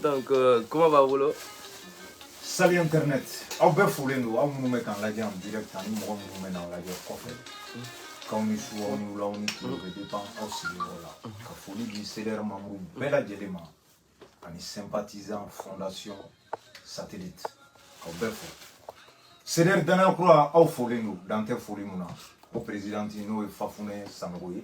donc euh, comment va bolo salut internet aw bɛɛ folen don aw minnu bɛ k'an lajɛ en direct ani mɔgɔ minnu bɛ n'an lajɛ kɔfɛ k'aw ni su aw ni wula aw ni tile bɛ dépend aw sigiyɔrɔ la ka foli di CDR membre bɛɛ lajɛlen ma ani sympathisant fondation satellite k'aw bɛɛ fo CDR danaya kura aw folen don dan tɛ foli mun na ko présidente n'o ye Fafunɛ Sanogo ye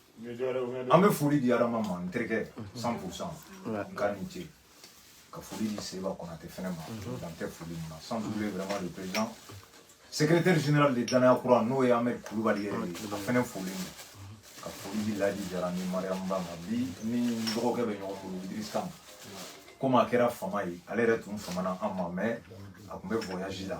an bɛ foli di adama ma n terikɛ cent pour cent n ka ni ce ka foli di seba kɔnate fɛnɛ ma dan tɛ foli min na sans oublier vraiment le président secrétaire général de danaya kura n'o ye amɛd kulubali yɛrɛ ye a fɛnɛ foli ma ka foli di ladi jara ni mariyamu ba ma bi ni dɔgɔkɛ bɛ ɲɔgɔn bolo idris kam comme a kɛra fama ye ale yɛrɛ tun famana an ma mais a tun bɛ voyage la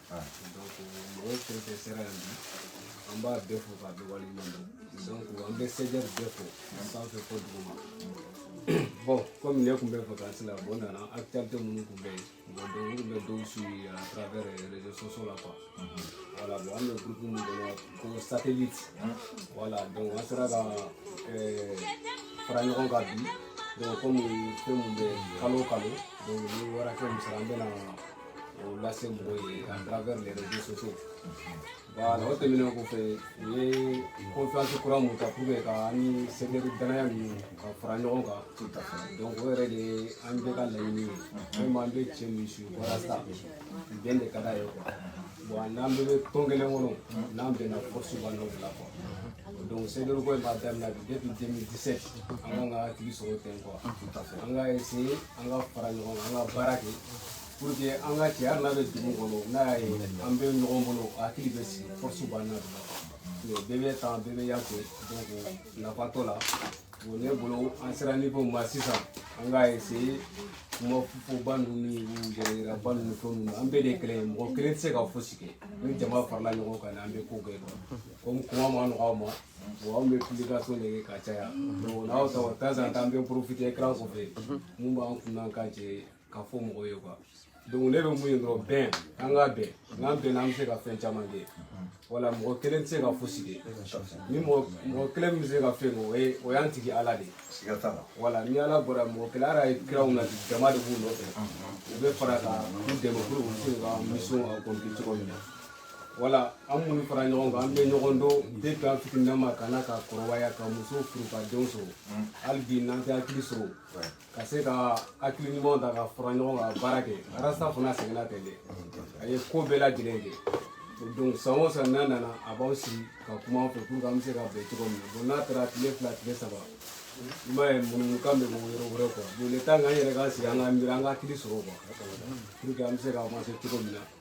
donc mɔgɔw fɛn fɛn sera yan bi an b'a bɛɛ fo k'a bɛɛ waleɲuman dɔn donc an bɛ CDR bɛɛ fo sanfɛ fo duguma bon comme ne tun bɛ vacances la bon nana actualité minnu tun bɛ yen bon donc n tun bɛ dɔw suivi à travers réseaux sociaux la quoi voilà bon an bɛ groupe min kɔnɔ ko satellite voilà donc an sera ka ɛɛ fara ɲɔgɔn kan bi donc comme fɛn min bɛ kalo o kalo donc ni wara kɛ misali an bɛna o lase mɔgɔw ye à travers les réseaux sociaux voilà o tɛmɛnen kɔfɛ u ye confiance kura mun ta pour que ka an ni CDR danaya ninnu ka fara ɲɔgɔn kan donc o yɛrɛ de ye an bɛɛ ka laɲini ye vraiment an bɛ cɛ min su walasa bɛn de ka d'a ye quoi bon n'an bɛɛ bɛ tɔn kelen kɔnɔ n'an bɛnna force b'an n'o de la quoi donc CDR ko in b'a daminɛ bi depuis 2017 an kan ka hakili sɔrɔ ten quoi an ka essayer an ka fara ɲɔgɔn kan an ka baara kɛ pour que an ka cɛ hali n'a bɛ dugu kɔnɔ n'a y'a ye an bɛ ɲɔgɔn bolo a hakili bɛ sigi force b'an na mais bɛɛ bɛ tan bɛɛ bɛ yan fɛ donc nafa t'o la bon ne bolo an sera niveau min ma sisan an ka essayer kuma fɔba ninnu ni yɛrɛyiraba ninnu ni fɛn ninnu an bɛɛ de ye kelen ye mɔgɔ kelen tɛ se ka fosi kɛ ni jama farala ɲɔgɔn kan an bɛ ko kɛ comme kuma man nɔgɔ an ma bon anw bɛ publication de kɛ ka caya donc n'aw ta o temps en temps an bɛ profiter écran kɔfɛ mun b'an kun n'an kan cɛ k'a fɔ mɔgɔw ye quoi donc ne bɛ mun ye dɔrɔn bɛn an ka bɛn n'an bɛnna an bɛ se ka fɛn caman kɛ voilà mɔgɔ kelen tɛ se ka fosi kɛ ni mɔgɔ mɔgɔ kelen min bɛ se ka fɛn kɛ o ye o y'an tigi ala de ye voilà ni ala bɔra mɔgɔ kelen ala ye kiraw na jama de b'u nɔfɛ u bɛ fara ka u dɛmɛ pour u se ka mission accompli cogo min na voilà an minnu fara ɲɔgɔn kan an bɛ ɲɔgɔn dɔn depuis an fitininama ka na ka kɔrɔbaya ka muso furu ka denw sɔrɔ hali bi n'an tɛ hakili sɔrɔ ka se ka hakili ɲumanw ta ka fara ɲɔgɔn kan ka baara kɛ arasa fana sɛgɛnna ten de a ye ko bɛɛ lajɛlen kɛ donc san o san n'a nana a b'an sigi ka kuma an fɛ pour que an bɛ se ka bɛn cogo min na bon n'a taara tile fila tile saba i m'a ye munumunukan bɛ bɔ yɔrɔ wɛrɛ quoi bon le temps k'an yɛrɛ k'an sigi an ka miiri an ka hakili sɔrɔ quoi pour que an bɛ se ka avancer cogo min na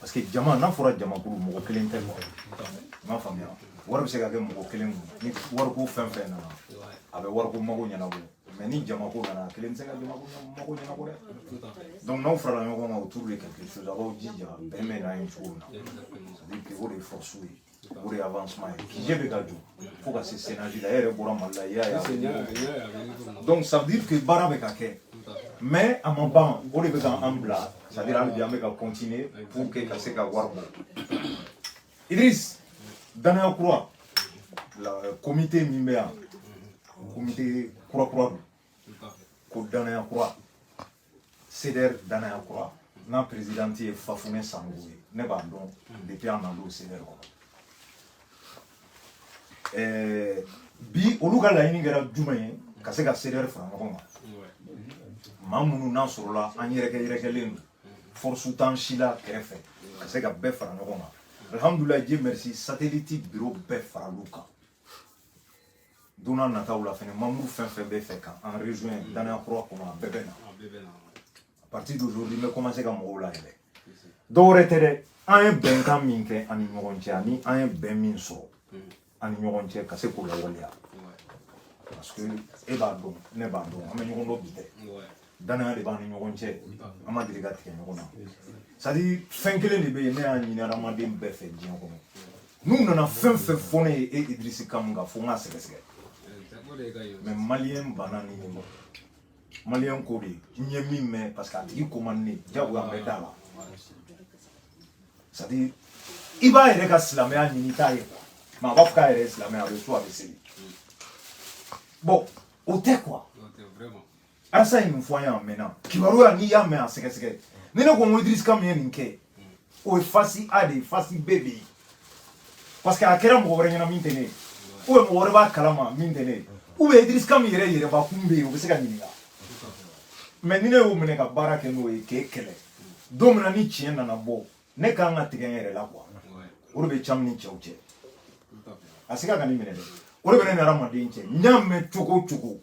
parce que jama n'a fɔra jamakulu mɔgɔ kelen tɛ quoi i m'a faamuya wari bɛ se ka kɛ mɔgɔ kelen kun ni wariko fɛn fɛn nana a bɛ wariko mago ɲɛnabɔ mais ni jamako nana a kelen tɛ se ka jamako mago ɲɛnabɔ dɛ donc n'aw farala ɲɔgɔn kan autour de quelque chose a b'aw jija bɛn bɛ na yen cogo min na c'est à dire que o de ye force ye o de ye avancement ye QG bɛ ka jɔ fo ka se chaînage la e yɛrɛ bɔra mali la i y'a ye donc ça veut dire que baara bɛ ka kɛ mais a ma ban o de bɛ ka an bila c'est à dire hali bi an bɛ ka continuer pour que ka se ka wari bɔ idris danaya kura la comité min bɛ yan comité kura kura don ko danaya kura CDR danaya kura n'a présidente ye Fafune Sanogo ye ne b'a dɔn depuis an nana o CDR kɔnɔ ɛɛ bi olu ka laɲini kɛra jumɛn ye ka se ka CDR fara ɲɔgɔn kan maa minnu n'a sɔrɔla an yɛrɛkɛ yɛrɛkɛlen don force t'an si la kɛrɛfɛ ka se ka bɛɛ fara ɲɔgɔn kan alhamdulilayi Dieu merci satellite biro bɛɛ faral'u kan don n'a nataw la fɛnɛ membre fɛn fɛn bɛ fɛ ka an rejoindre mm. danaya kura kɔnɔ a bɛɛ bɛ na à partir d'aujourd'hui n bɛ commencer ka mɔgɔw layɛlɛ dɔ wɛrɛ tɛ dɛ an ye bɛnkan min kɛ an ni ɲɔgɔn cɛ ani an ye bɛn min sɔrɔ mm. an ni ɲɔgɔn cɛ ka se k'o lawaleya parce que e b'a dɔn ne b'a dɔn an bɛ ɲɔgɔn dɔn bi tɛ danaya de b'an ni ɲɔgɔn cɛ an ma deli ka tigɛ ɲɔgɔn na c'est à dire fɛn kelen de bɛ yen ne y'a ɲini adamaden bɛɛ fɛ diɲɛ kɔnɔ n'u nana fɛn fɛn fɔ ne ye e idirisi kamu kan fo n k'a sɛgɛsɛgɛ mais maliyɛn banna ni ɲɔgɔn maliyɛn ko de n ye min mɛn parce que a tigi ko man ne jagoya bɛ da la c'est à dire i b'a yɛrɛ ka silamɛya ɲini i t'a ye mais a b'a fɔ k'a yɛrɛ ye silamɛ ye a bɛ sun a bɛ seli bon o tɛ quoi Arasa ye nin fɔ an ye a mɛnna kibaruya n'i y'a mɛn a sɛgɛsɛgɛ ni ne ko n ko Idriss Kam ye nin kɛ o ye face A de ye face B de ye parce que a kɛra mɔgɔ wɛrɛ ɲɛna min tɛ ne ye ou bien mɔgɔ wɛrɛ b'a kalama min tɛ ne ye ou bien Idriss Kam yɛrɛ yɛrɛbakun bɛ yen o bɛ se ka ɲininka mais ni ne y'o minɛ ka baara kɛ n'o ye k'e kɛlɛ don min na ni tiɲɛ nana bɔ ne ka kan ka tigɛ n yɛrɛ la quoi o de bɛ Kam ni cɛw cɛ a se ka ka nin minɛ dɛ o de bɛ ne ni hadamaden cɛ n y'a mɛn cogo o cogo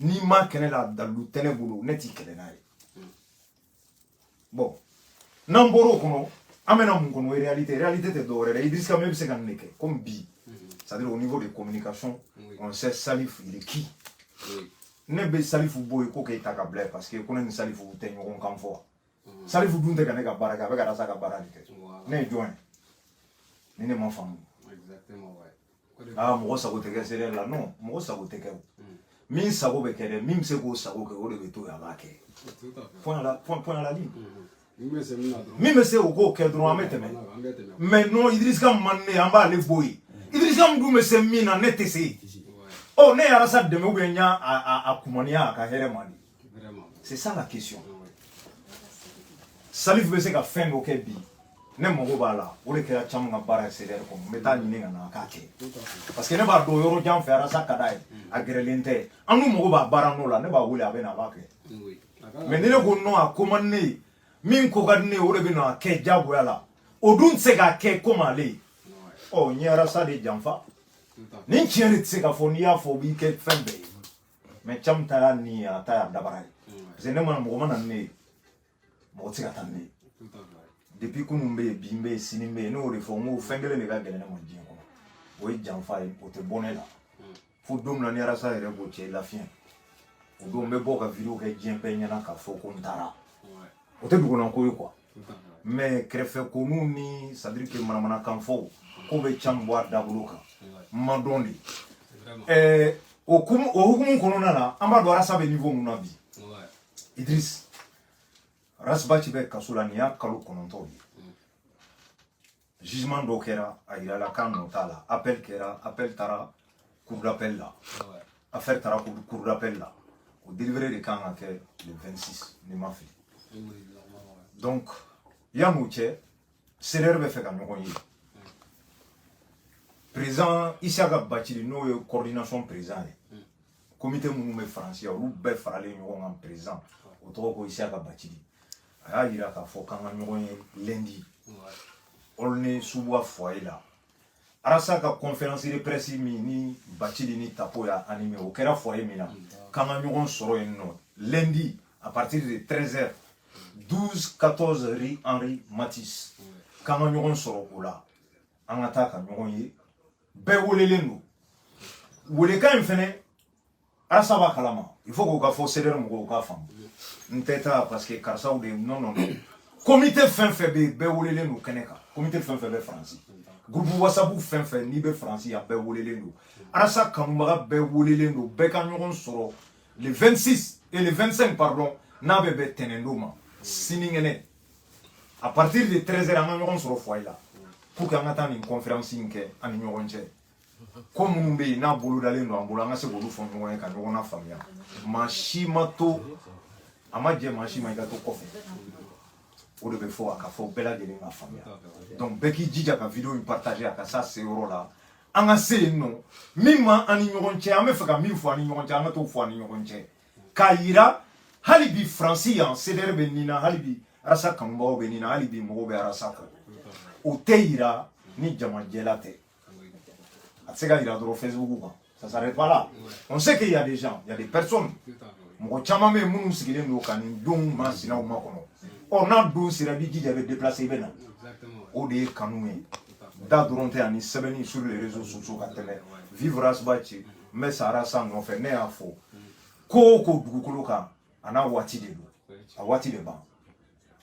n'i ma kɛnɛ la dalu tɛ ne bolo ne t'i kɛlɛ n'a ye bon n'an bɔra o kɔnɔ an bɛna mun kɔnɔ réalité réalité tɛ dɔwɛrɛ dɛ Idriss Camu bɛ se ka nin de kɛ comme bi c'est-à-dire au niveau de communication on sait Salif il est qui ne bɛ Salifu bɔ yen ko k'e ta ka bila yen parce que ko ne ni Salifu tɛ ɲɔgɔn kan fɔ Salifu dun tɛ ka ne ka baara kɛ a bɛ ka Rasa ka baara de kɛ ne ye jɔn ye ni ne ma faamu aa mɔgɔ sago tɛ kɛ CDR la non mɔgɔ sago tɛ kɛ min sago bɛ kɛ dɛ min bɛ se k'o sago kɛ o de bɛ to yen a b'a kɛ point à la ligne min bɛ se o k'o kɛ dɔrɔn an bɛ tɛmɛ mais non idirisa Camu man ne an b'ale bɔ yen idirisa Camu dun bɛ se min na ne tɛ se yen ɔ ne ye arasa dɛmɛ ou bien n y'a a kumaniya a ka hɛrɛ ma de c'est ça la question salifu bɛ se ka fɛn dɔ kɛ bi ne mago b'a la o de kɛra Camu ka baara ye CDR kɔnɔ n bɛ taa ɲini ka na a k'a kɛ parce que ne b'a dɔn yɔrɔ jan fɛ arasa ka d'a ye a gɛrɛlen tɛ an dun mago b'a baara nɔ la ne b'a wele a bɛ na a b'a kɛ mais ni ne ko non a ko man di ne ye min ko ka di ne ye o de bɛ na a kɛ diyagoya la o dun tɛ se k'a kɛ comme ale ye ɔ n ye arasa de janfa ni tiɲɛ de tɛ se ka fɔ n'i y'a fɔ o b'i kɛ fɛn bɛɛ ye mais Camu ta y'a ni a ta y'a dabara ye parce que ne ma na mɔgɔ ma na ni ne ye mɔgɔ tɛ se ka taa ni ne ye depuis kunun bɛ yen bi n bɛ yen sini n bɛ yen ne y'o de fɔ n ko fɛn kelen de ka gɛlɛn ne ma diɲɛ kɔnɔ o ye janfa ye o tɛ bɔ ne la fo don min na ni arasa yɛrɛ b'o cɛ lafiɲɛ o don n bɛ bɔ ka vidéo kɛ diɲɛ bɛɛ ɲɛna k'a fɔ ko n taara o tɛ dogola ko ye quoi mais kɛrɛfɛ konu ni c'est-à-dire que manamanakan fɔ k'o bɛ Camu bɔ a dabolo kan n m'a dɔn dɛ ɛɛ o hukumu kɔnɔna na an b'a dɔn arasa bɛ niveau mun na bi idris Ras Bath bɛ kaso la nin y'a kalo kɔnɔntɔn ye jugement dɔw kɛra a yirala k'a nɔ t'a la appel kɛra appel taara cour d'appel la affaire taara cour d'appel la o délibéré de kan ka kɛ le 26 ni n ma fili donc yan'o cɛ CDR bɛ fɛ ka ɲɔgɔn ye président Isaka Bacili n'o ye coordination président ye hmm. comité minnu bɛ Faransi yan olu bɛɛ faralen ɲɔgɔn kan président o tɔgɔ ko Isaka Bacili a y'a yira k'a fɔ k'an ka ɲɔgɔn ye lundi Aulnay-sous-Bois foyer la arasa ka conférence de presse min ni bacili ni tapo y'a animer o kɛra foyer min na k'an ka ɲɔgɔn sɔrɔ yen nɔ lundi à partir de 13 heures 12 14 rue Henri Matisse k'an ka ɲɔgɔn sɔrɔ o la an ka taa ka ɲɔgɔn ye bɛɛ welelen don welekan in fɛnɛ Arasa b'a kalama il faut k'o ka fɔ CDR mɔgɔw k'a faamu n tɛ taa parce que karisaw de non non non comité fɛn fɛn bɛ yen bɛɛ welelen don kɛnɛ kan comité fɛn fɛn bɛ faransi groupe WhatsApp fɛn fɛn n'i bɛ faransi a bɛɛ welelen don arasa kanubaga bɛɛ welelen don bɛɛ ka ɲɔgɔn sɔrɔ le 26 et le 25 pardon n'a bɛ bɛn tɛnɛndon ma sinikɛnɛ à partir de 13 heures an ka ɲɔgɔn sɔrɔ foyer la pour que an ka taa nin conférence in kɛ an ni ɲɔgɔn cɛ ko minnu bɛ yen n'a bolodalen don an bolo an ka se k'olu fɔ ɲɔgɔn ye ka ɲɔgɔn lafaamuya maa si ma to a ma jɛ maa si ma i ka to kɔfɛ o de bɛ fɔ a ka fɔ bɛɛ lajɛlen ka faamuya donc bɛɛ k'i jija ka vidéo in partager a ka s'a se yɔrɔ la an ka se yen nɔ min ma an ni ɲɔgɔn cɛ an bɛ fɛ ka min fɔ an ni ɲɔgɔn cɛ an ka t'o fɔ an ni ɲɔgɔn cɛ k'a yira hali bi faransi yan CDR bɛ ni na hali bi arasa kanubagaw bɛ ni na hali bi mɔgɔw bɛ arasa kɔ o tɛ yira ni jama jɛlen tɛ a tɛ se ka yira dɔrɔn facebook kan ça s'arrête pas là on sait qu'il y a des gens il y a des personnes mɔgɔ caman bɛ yen minnu sigilen don ka nin don masina o makɔnɔ ɔ n'a don sera i b'i jija i bɛ déplacer i bɛ na o de ye kanu ye da dɔrɔn tɛ ani sɛbɛnni sur les réseaux sociaux ka tɛmɛ vive Ras Bath n bɛ sa arasa nɔfɛ ne y'a fɔ ko o ko dugukolo kan a n'a waati de don a waati de ban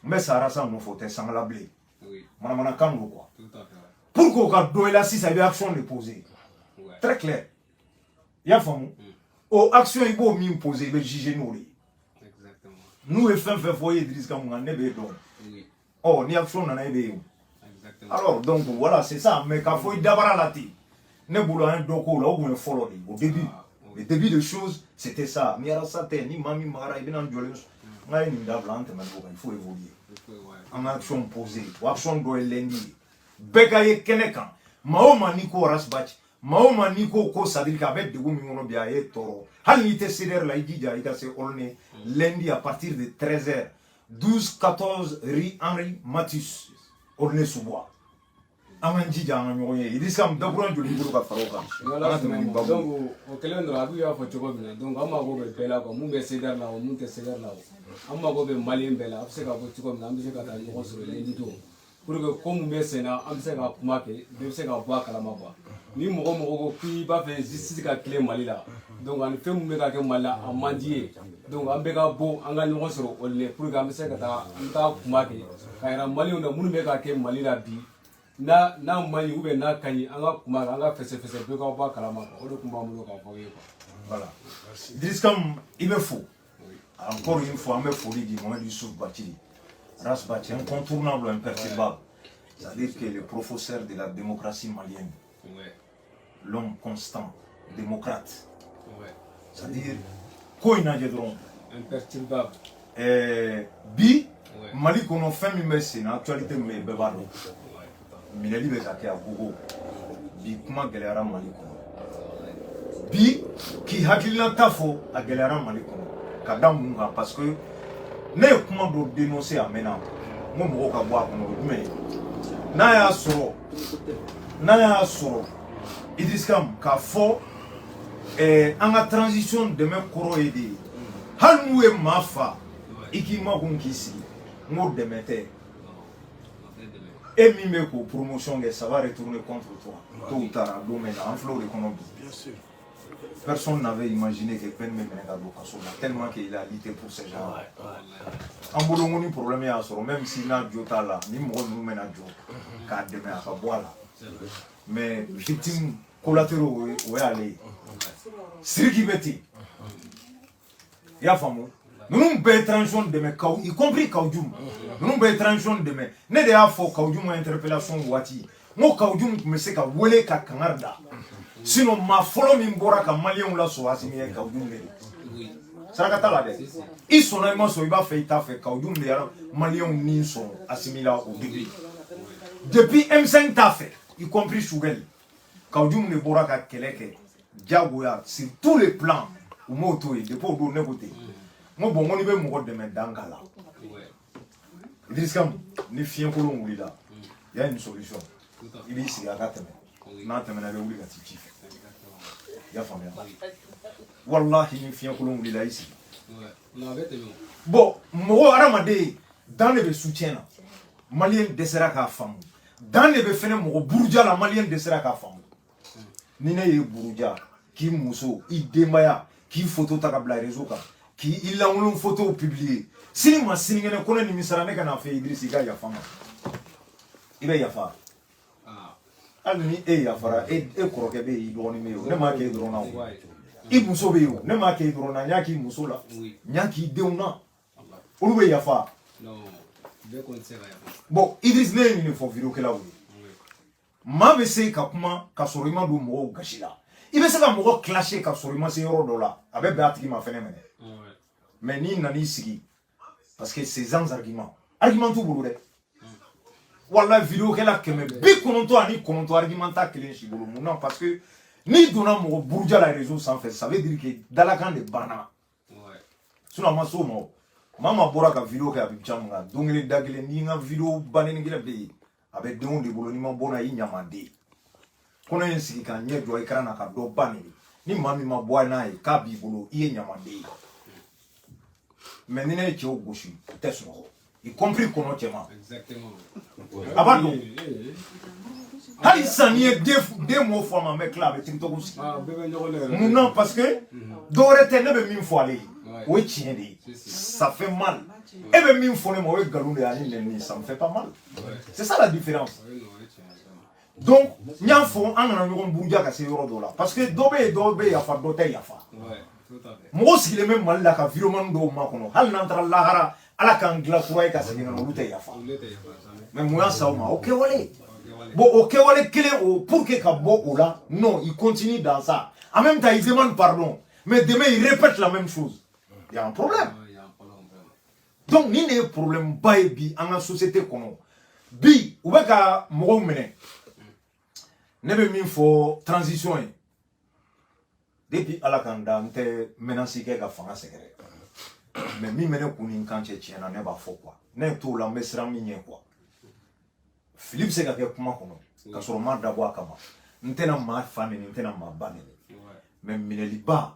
n bɛ sa arasa nɔfɛ o tɛ sanga la bilen manamanakan don quoi pour que o ka dɔn i la sisan i bɛ action de poser très clair i y'a faamu mm. o action i b'o min poser i bɛ juger n'o de ye n'u ye fɛn fɛn fɔ i ye Idriss Ka mun kan ne b'e dɔn ɔ ni action nana e bɛ yen o alors donc voilà c'est ça mais k'a fɔ i dabara la ten ne bolo an ye dɔ k'o la o tun ye fɔlɔ de ye o début ah, le début de chose c'était ça ni arasa tɛ ni maa min magara i bɛna n jɔlen nka a ye nin dabila an tɛmɛna o kan il faut évoluer an ka action poser o action dɔ ye lundi ye bɛɛ ka ye kɛnɛ kan maa o maa n'i ko Ras Bath maa o maa n'i ko ko c'est-à-dire que a bɛ degun min kɔnɔ bi a y'i tɔɔrɔ hali n'i tɛ CDR la i jija i ka se Aulnay lundi à partir de 13 heures 12 14 rue Henri Matisse Aulnay-sous-Bois an k'an jija an ka ɲɔgɔn ye idrissa m dakurun joli b'i bolo ka fara o kan an ka tɛmɛ ni babu donc o kɛlen dɔrɔn Abu y'a fɔ cogo min na donc an mago bɛ bɛɛ la quoi mun bɛ CDR la o mun tɛ CDR la o an mago bɛ malien bɛɛ la a bɛ se ka bɔ cogo min na an bɛ se ka taa ɲɔgɔn sɔrɔ lundi don pour que ko mun bɛ sen na an bɛ se ka kuma kɛ bɛɛ bɛ se ka bɔ a kalama quoi ni mɔgɔ mɔgɔ ko k'i b'a fɛ justice ka tilen mali la donc ani fɛn mun bɛ ka kɛ mali la a man d'i ye donc an bɛɛ ka bɔ an ka ɲɔgɔn sɔrɔ o le pour que an bɛ se ka taa an bɛ taa kuma kɛ k'a yira malienw na mun bɛ ka kɛ mali la bi n'a n'a man ɲi ou bien n'a ka ɲi an ka kuma kan an ka fɛsɛfɛsɛ bɛɛ ka bɔ a kalama o de tun b'an bolo k'a fɔ aw ye quoi. voilà Idriss Kamu i bɛ fo encore une fois an bɛ foli di Mohamed Youssouf Bathily Ras Bath incontournable imperturbable c'est à dire que le professeur de la démocratie malienne l'homme constant démocrate ouais. c'est à dire ko in lajɛ dɔrɔn imperturbable eh, bi ouais. mali kɔnɔ fɛn min bɛ sen na actualité min bɛ yen bɛɛ b'a dɔn minɛli bɛ ka kɛ à gogo bi kuma gɛlɛyara mali kɔnɔ bi k'i hakilina ta fɔ a gɛlɛyara mali kɔnɔ ka da mun kan parce que ne ye kuma dɔ dénoncer a mɛnna n ko mɔgɔw ka bɔ a kɔnɔ o jumɛn ye n'a y'a sɔrɔ n'a y'a sɔrɔ Idriss Kam k'a fɔ eh, an ka transition dɛmɛ kɔrɔ ye de ye hali n'u ye maa fa i k'i makun k'i sigi n k'o dɛmɛ tɛ e min bɛ k'o promotion kɛ ça va retourner contre toi tôt ou tard a don mɛnna an filɛ o de kɔnɔ bi Personne n'avait imaginé que Ben bɛ minɛ ka don kaso la tellement que il a lutté pour ces gens là. An bolo ni problème y'a sɔrɔ même si n'a jo t'a la ni mɔgɔ ninnu bɛna jɔ k'a dɛmɛ a ka bɔ a la mais victime collatéraux o y'ale ye. Siriki bɛ ten. i y'a faamu ninnu bɛɛ ye transition dɛmɛ Kaou y compris Kaou Djim ninnu bɛɛ ye transition dɛmɛ ne de y'a fɔ Kaou Djim interpellation waati n ko Kaou Djim tun bɛ se ka wele ka kangari da sinon maa fɔlɔ min bɔra ka maliyɛnw lasɔn Assimi ye Kaou Djim de ye saraka t'a la dɛ i sɔnna i ma sɔn i b'a fɛ i t'a fɛ Kaou Djim de ye maliyɛnw nin sɔn Assimi la au début depuis M5 t'a fɛ y compris Choguel Kaou Djim de bɔra ka kɛlɛ kɛ jagoya sur tous les plans u m'o to yen depuis o don ne ko ten n ko bɔn ko n'i bɛ mɔgɔ dɛmɛ dan k'a la Idriss Kam ni fiɲɛkolon wulila y a une solution i b'i sigi a ka tɛmɛ n'a tɛmɛna i bɛ wuli ka t'i ci fɛ i y'a faamuya walahi ni fiɲɛkolon wulila i sigi bɔn mɔgɔ hadamaden dan de bɛ soutien na maliyɛn dɛsɛra k'a faamu dan de bɛ fɛnɛ mɔgɔ buruja la maliyɛn dɛsɛra k'a faamu ni ne y'i buruja k'i muso i denbaya k'i foto ta ka bila réseau kan k'i i lankolon fotow publier sini ma sinikɛnɛ ko ne nimisara ne ka n'a fɔ Idriss i ka yafa n ma i bɛ yafa ah. hali ni e yafara e, e kɔrɔkɛ bɛ yen i dɔgɔnin bɛ yen o ne m'a kɛ e dɔrɔn na o i muso bɛ yen o ne m'a kɛ e dɔrɔn na n y'a k'i muso la n y'a k'i denw na olu bɛ yafa bɔn Idriss ne ye nin de fɔ videokɛlaw ye maa bɛ se ka kuma ka sɔrɔ i ma don mɔgɔw gasi la i bɛ se ka mɔgɔ clasher ka sɔrɔ i ma se yɔrɔ dɔ la a bɛ bɛn a tigi ma fɛnɛ minɛ mais n'i nan'i sigi parce que c'est sans argument argument t'u bolo dɛ wala videokɛla kɛmɛ bi kɔnɔntɔn ani kɔnɔntɔn argument t'a kelen si bolo mun na parce que n'i donna mɔgɔ buruja la réseau sanfɛ ça veut dire que dalakan de banna Ouais. Sinon, ma so mɔ. Mama bɔra ka video kɛ a bɛ cam kan don kelen da kelen n'i ka video ba nɛni kelen bɛ yen a bɛ dɔ de bolo n'i ma bɔ n'a ye i ɲamaden ko ne ye n sigi ka n ɲɛ jɔ écran na ka dɔ ba nɛni ni maa min ma bɔ a ye n'a ye k'a b'i bolo i ye ɲamaden ye mais ni ne ye cɛw gosi u tɛ sunɔgɔ y compris kɔnɔ cɛman a b'a dɔn hali sisan n'i ye deux mots fɔ a ma n bɛ tila a bɛ tiktok sigi ah, mun na parce que mm-hmm. dɔwɛrɛ tɛ ne bɛ min fɔ ale ye o ye tiɲɛ de ye ça fait mal e bɛ min fɔ ne ma o ye nkalon de ye ani nɛni ça me fait pas mal c'est ça la différence donc n y'a fɔ an kana ɲɔgɔn buruja ka se yɔrɔ dɔ la parce que dɔ bɛ yen dɔ bɛ yafa dɔ tɛ yafa mɔgɔ sigilen bɛ mali la ka videoman dɔw makɔnɔ hali n'an taara lahara ala k'an dilan kura ye ka segin ka na olu tɛ yafa mais mun y'a se o ma o kɛwale bon o kɛwale kelen o pour que ka bɔ o la non il continue dans ça en même temps il demande pardon mais demain il répète la même chose il y a un problème donc nin de ye problème ba ye bi an ka société kɔnɔ bi u bɛ ka mɔgɔw minɛ ne bɛ min fɔ transition ye depuis ala ka n da n tɛ menace kɛ ka fanga sɛgɛrɛ mais min bɛ ne kun ni n kan cɛ tiɲɛ na ne b'a fɔ quoi ne ye t'o la n bɛ siran min ɲɛ quoi fili bɛ se ka kɛ kuma kɔnɔ ka sɔrɔ n m'a dabɔ a kama n tɛna maa fa nɛni n tɛna maa ba nɛni mais minɛliba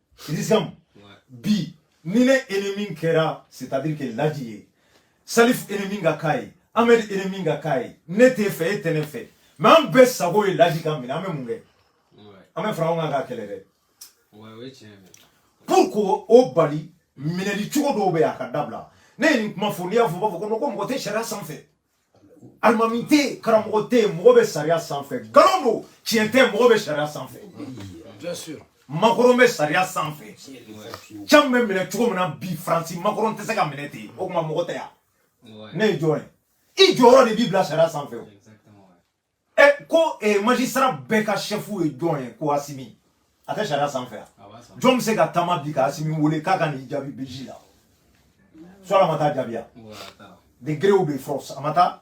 Rizam bi ni ne ennemi kɛra c'est à dire que laji ye salif ennemi ka k'a ye amɛdi ennemi ka k'a ye ne t'e fɛ e tɛ ne fɛ mais an bɛɛ sago ye laji ka minɛ an bɛ mun kɛ an bɛ fara ɲɔgɔn kan k'a kɛlɛ dɛ pour k'o bali minɛli cogo dɔw bɛ yen a ka dabila ne ye nin kuma fɔ n'i y'a fɔ u b'a fɔ ko ko mɔgɔ tɛ sariya sanfɛ alimami tɛ karamɔgɔ tɛ mɔgɔ bɛ sariya sanfɛ nkalon don tiɲɛ tɛ mɔgɔ bɛ sariya sanfɛ makɔrɔn bɛ sariya sanfɛ cam bɛ minɛ cogo min na bi faransi makɔrɔn tɛ se ka minɛ ten o kuma mɔgɔ tɛ yan ne ye jɔn ye i jɔyɔrɔ de b'i bila sariya sanfɛ o ɛ eh, ko eh, magistrat bɛɛ ka sɛfu ye jɔn ye ko asimi a tɛ sariya sanfɛ yan jɔn bɛ se ka taama bi ka asimi wele k'a ka n'i jaabi biji la sɔrɔ a ma taa jaabiya de gré ou de force a ma taa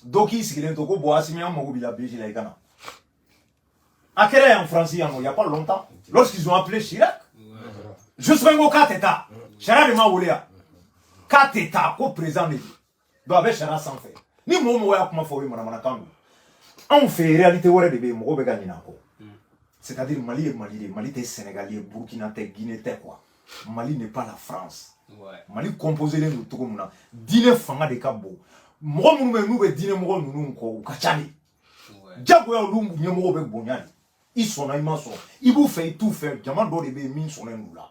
dɔ k'i sigilen to ko bon asimi an mago b'i la biji la i ka na a kɛra yan faransi yan il y a pas longtemps lorsqu'ils ont appelé Chirac jusqu'en ko k'a tɛ taa Chirac de ma wele yan k'a tɛ taa ko président de don don a bɛ sariya sanfɛ ni mɔgɔ mɔgɔ y'a kuma fɔ o ye manamanakan don anw fɛ yen réalité wɛrɛ de bɛ yen mɔgɔw bɛ ka ɲinɛ a kɔ c'est à dire mali ye mali de mali tɛ sénégal ye burkina tɛ guinée tɛ quoi mali n'est pas la france mali composelen don cogo min na diinɛ fanga de ka bon mɔgɔ minnu bɛ n'u bɛ diinɛ mɔgɔ ninnu kɔ u ka ca de jagoya olu ɲɛmɔgɔw bɛ bonya de i sɔnna i ma sɔn i b'u fɛ i t'u fɛ jama dɔ de bɛ yen min sɔnnen don la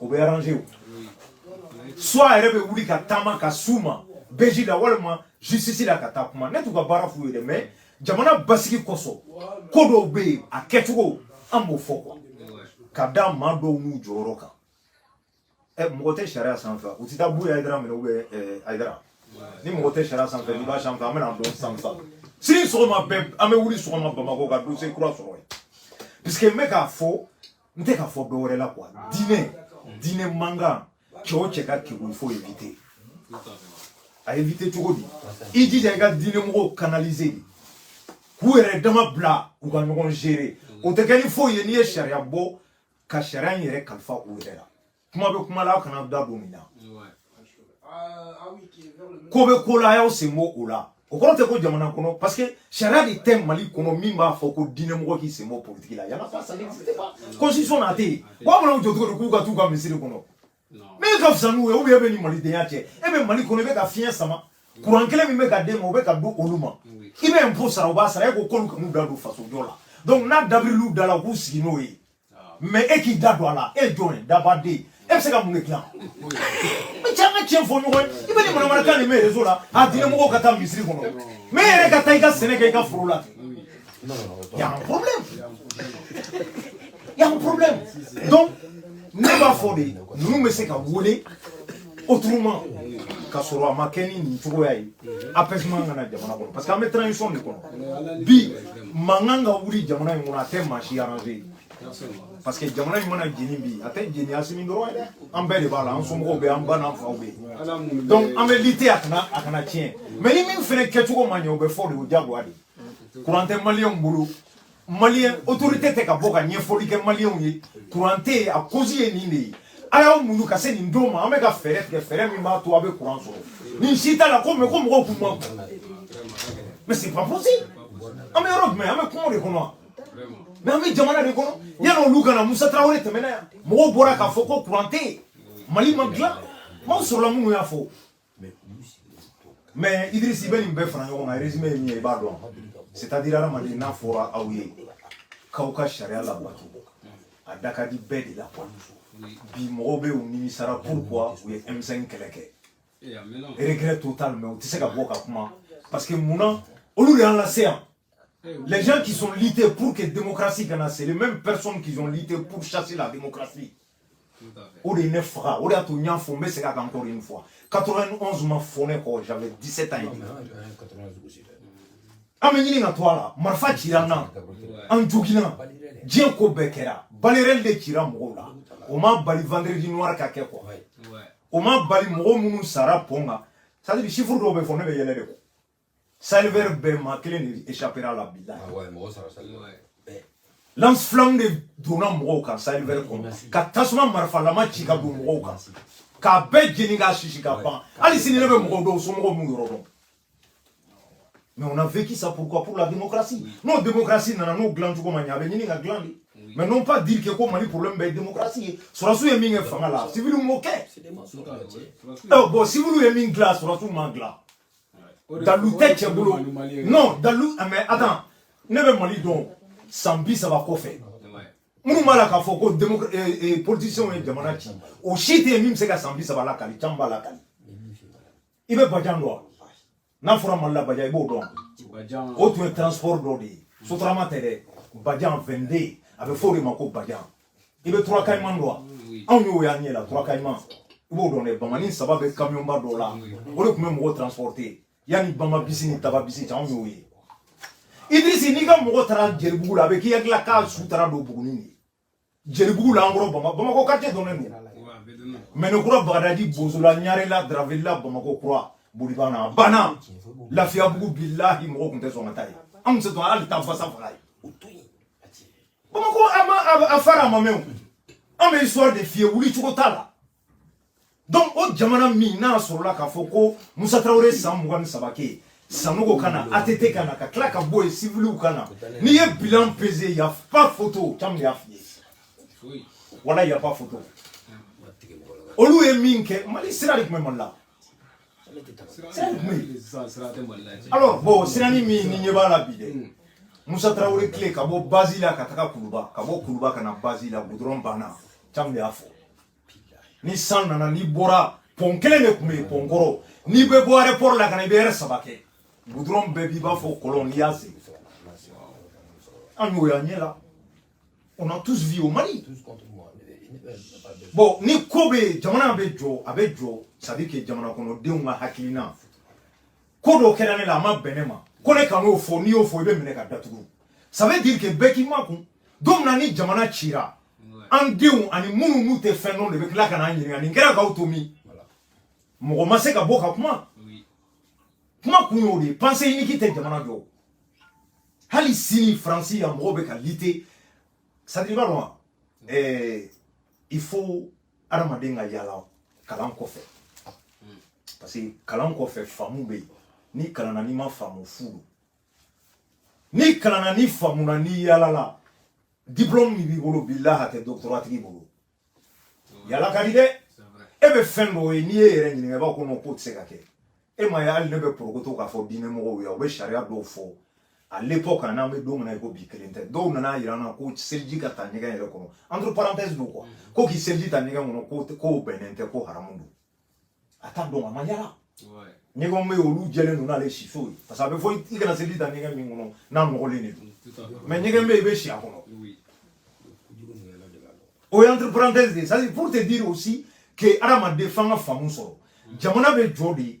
o bɛ arranger soit a yɛrɛ bɛ wuli ka taama ka s'u ma bij la walima justice la ka taa kuma ne t'u ka baara f'u ye dɛ mais jamana basigi kosɔn ko dɔw bɛ yen a kɛcogo an b'o fɔ quoi ka da maa dɔw n'u jɔyɔrɔ kan ɛ mɔgɔ tɛ sariya sanfɛ u tɛ taa buye ayidara minɛ u bɛ ayidara ni mɔgɔ tɛ sariya sanfɛ n'i b'a sanfɛ an bɛn'a dɔn san san sini sɔgɔma bɛɛ an bɛ wuli sɔgɔma bamakɔ ka dossier kura sɔrɔ yen puisque n bɛ k'a fɔ n tɛ ka fɔ dɔ wɛrɛ la quoi diinɛ diinɛ mankan cɛ o cɛ ka kekun il faut éviter a éviter cogo di i jija i ka diinɛ mɔgɔw canaliser de k'u yɛrɛ dama bila u ka ɲɔgɔn gérer o tɛ kɛ ni foyi ye n'i ye sariya bɔ ka sariya in yɛrɛ kalifa u yɛrɛ la kuma bɛ kuma la aw kana da don nin na ko bɛ ko la a y'aw sen bɔ o la o kɔrɔ tɛ ko jamana kɔnɔ parce que sariya de tɛ mali kɔnɔ min b'a fɔ ko diinɛmɔgɔ k'i sen bɔ politiki la y en a pas ça n'existe pas constitution na a tɛ yen wa bɛna jɔ cogo di k'u ka t'u ka misiri kɔnɔ mais e ka fisa n'u ye ou bien e bɛ ni malidenya cɛ e bɛ mali kɔnɔ i bɛ ka fiɲɛ sama kuran kelen min bɛ ka d'e ma o bɛ ka d'olu ma i bɛ impôt sara o b'a sara e ko k'olu kan'u da don fasojɔ la donc n'a dabiriliw da la u k'u sigi n'o ye mais e k'i da don a la e ye jɔn ye dabaden e bɛ se ka mun de dilan n bɛ caman tiɲɛ fɔ ɲɔgɔn ye i bɛ nin manamanakan nin mɛn réseau la a diinɛ mɔgɔw ka taa misiri kɔnɔ mais e yɛrɛ ka taa i ka sɛnɛ kɛ i ka foro la y a un problème y a un problème donc ne b'a fɔ de ninnu bɛ se ka wele autrement ka sɔrɔ a ma kɛ ni nin cogoya ye apaisement ka na jamana kɔnɔ parce que an bɛ transition de kɔnɔ bi mankan ka wuli jamana in kɔnɔ a tɛ maa si arranger parce que jamana in mana jeni bi a tɛ jeni asimi dɔrɔn ye dɛ an bɛɛ de b'a la an somɔgɔw bɛ an ba n'an faw bɛ donc an bɛ lutter a kana a kana tiɲɛ mais ni min fana kɛcogo ma ɲɛ o bɛ fɔ de o diyagoya de kuran tɛ maliyɛnw bolo mali autorité tɛ ka bɔ ka ɲɛfɔli kɛ maliyɛnw ye kuran tɛ yen a cause ye nin de ye a y'aw muɲu ka se nin don ma an bɛ ka fɛɛrɛ tigɛ fɛɛrɛ min b'a to a bɛ kuran sɔrɔ nin si t'a la ko mais ko mɔgɔw kuma mais c'est pas possible an bɛ yɔrɔ jumɛn an bɛ kungo de kɔnɔ mais an bɛ jamana de kɔnɔ yanni olu ka na musa tarawele tɛmɛna yan mɔgɔw bɔra k'a fɔ ko kuran tɛ yen mali ma dilan maaw sɔrɔla minnu y'a fɔ mais Idriss i bɛ nin bɛɛ fara ɲɔgɔn kan résumé ye min ye i b'a dɔn c'est à dire hadamaden n'a fɔra aw ye k'aw ka sariya labato a da ka di bɛɛ de la quoi bi mɔgɔw bɛɛ u nimisara pourquoi u ye M5 kɛlɛ kɛ regret total mais u tɛ se ka bɔ ka kuma parce que mun na olu de y'an lase yan les gens qui sont luttés pour que démocratie ka na c'est les mêmes personnes qui ont lutté pour chasser la démocratie o de ye ne faga o de y'a to n y'a fɔ n bɛ segin a kan encore une fois 91 ma fɔ ne kɔ j'avais 17 ans et demi an bɛ ɲini ka to a la marifa cira an na an joginna diɲɛ ko bɛɛ kɛra balles réelles de cira mɔgɔw la o ma bali vendredi noir ka kɛ quoi o ma bali mɔgɔ minnu sara pɔn kan c'est à dire chiffre dɔw bɛ fɔ ne bɛ yɛlɛ de quoi Sahel Vert bɛɛ maa kelen de échappera la bilahi ah ouais, mɔgɔ sara Sahel Vert eh. lance flamme de donna mɔgɔw kan Sahel Vert kɔnɔ ka tasuma marifalama ci ka don mɔgɔw kan k'a bɛɛ jeni k'a sisi ka ban hali sini ne bɛ mɔgɔw dɔn somɔgɔw m'u yɔrɔ dɔn mais on a vécu ça pourquoi pour la démocratie n'o démocratie nana n'o dilan cogo ma ɲɛ a bɛ ɲini ka dilan de mais non pas dire que ko mali problème bɛɛ démocratie ye sɔrɔdasiw ye min kɛ fanga la siviliw m'o kɛ bon siviliw ye min dilan sɔrɔdasiw m'a dilan dalilu tɛ cɛ bolo non dalilu ah, mais attends ne bɛ mali dɔn san bi saba kɔfɛ minnu b'a la k'a fɔ ko eh, eh, politiciens ye jamana ci o si tɛ yen min bɛ se ka san bi saba lakali caman b'a lakali i bɛ bajan dɔn n'a fɔra mali la bajan i b'o dɔn o tun ye transport dɔ de ye sotarama tɛ dɛ bajan 22 a bɛ fɔ o de ma ko bajan i bɛ trois caïmans dɔn wa anw y'o y'an ɲɛ la trois caïmans i b'o dɔn dɛ bamani saba bɛ kamiyɔnba dɔ la o de tun bɛ mɔgɔ transporte yanni bamabus ni tababus cɛ anw y'o ye idirisi n'i ka mɔgɔ taara jelibugu la a bɛ k'i hakili la k'a su taara don bugunin de jelibugu la an kɔrɔ bama bamakɔ quartier dɔnnen don medina kura bagadaji bozola ɲarela dravela bamakɔ kura bolibana banna lafiyabugu bilahi mɔgɔ tun tɛ sɔn ka taa yen an tun tɛ sɔn hali taa basa faga yen bamakɔ an ma a fara a ma mɛɛn an bɛ histoire de f'i ye wuli cogo t'a la donc o jamana min n'a sɔrɔla k'a fɔ ko musa tarawele san mugan ni saba kɛ sanogo ka na att ka na ka tila ka bɔ yen siviliw ka na n'i ye bilan peser y a pas photo caman de y'a f'i ye voilà y a pas photo olu ye min kɛ mali sira de tun bɛ mali la alors bon sirani min n'i ɲɛ b'a la bi dɛ hmm. musa tarawele tile ka bɔ bazi la ka taga kuluba ka bɔ kuluba ka na bazi la gudɔrɔn banna caman de y'a fɔ ni san nana n'i bɔra pɔn kelen de tun bɛ yen pɔn kɔrɔ n'i bɛ bɔ aéroport la ka na i bɛ heure saba kɛ gudɔrɔn bɛɛ b'i b'a fɔ kɔlɔn n'i y'a sen an y'o y'an ɲɛ la on a tout vu au Mali. Bon, ni ko bɛ jamana bɛ jɔ a bɛ jɔ ça veut dire que jamana kɔnɔdenw ka hakilina ko dɔ kɛra ne la a ma bɛn ne ma ko ne kan'o fɔ n'i y'o fɔ i bɛ minɛ ka datugu ça veut dire que bɛɛ k'i makun don min na ni jamana cira an denw ani minnu n'u tɛ fɛn dɔn de bɛ tila ka n'an ɲininka nin kɛra k'aw to min mɔgɔ ma se ka bɔ ka kuma kuma kun y'o de ye pensée unique tɛ jamana jɔ hali sini faransi yan mɔgɔw bɛ ka lutter c'est à dire i b'a dɔn wa ɛɛ il faut adamaden ka yaala kalan kɔfɛ parce que kalan kɔfɛ faamu bɛ yen n'i kalanna n'i ma faamu fu don n'i kalanna n'i faamuna n'i yaalala diplɔmu min b'i bolo bilayi a tɛ doctorat tigi bolo yaala ka di dɛ e bɛ fɛn dɔw ye n'i y'i yɛrɛ ɲininka i b'a kɔnɔ k'o tɛ se ka kɛ e ma ye hali ne bɛ porokoto k'a fɔ diinɛ mɔgɔw ye u bɛ sariya dɔw fɔ à l'époque n'an bɛ don min na i ko bi kelen tɛ dɔw nan'a yira an na ko seliji ka ta ɲɛgɛn yɛrɛ kɔnɔ entre parenthèse don quoi ko k'i seliji ta ɲɛgɛn kɔnɔ k'o bɛnnen tɛ ko haramu don a t'a dɔn a ma yaala ɲɛgɛnw bɛ olu jɛlen don n'ale siso ye parce que a bɛ fɔ i kana seliji ta ɲɛgɛn min kɔnɔ n'a nɔgɔlen de don mais ɲɛgɛn bɛ yen i bɛ si a kɔnɔ o ye entre parenthèse de ye c'est à dire pour te dire aussi que adamaden f'an ka faamu sɔrɔ jamana bɛ jɔ de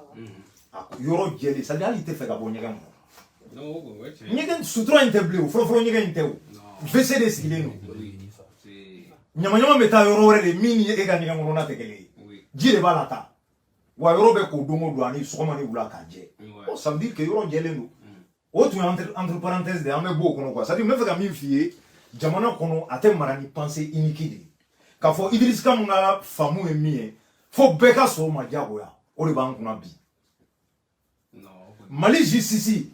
a ko yɔrɔ jɛlen c'est à dire hali i tɛ fɛ ka bɔ ɲɛgɛn kɔnɔ ɲɛgɛn sutura in tɛ bilen o fɔlɔfɔlɔ ɲɛgɛn in tɛ o WC de sigilen don ɲamaɲama bɛ taa yɔrɔ wɛrɛ de min ni e ka ɲɛgɛn kɔnɔna tɛ kelen ye ji de b'a lataa wa yɔrɔ bɛ ko don o don ani sɔgɔma ni wula k'a jɛ o ça veut dire que yɔrɔ jɛlen don o tun ye entre parenthèse de ye an bɛ bɔ o kɔnɔ quoi c'est à dire n bɛ fɛ ka min f'i ye jamana kɔnɔ a tɛ mara ni pensée unique de ye k'a fɔ Idriss Kam ka faamu ye min ye fo bɛɛ ka sɔn o ma diyagoya o de b'an kunna bi Mali justice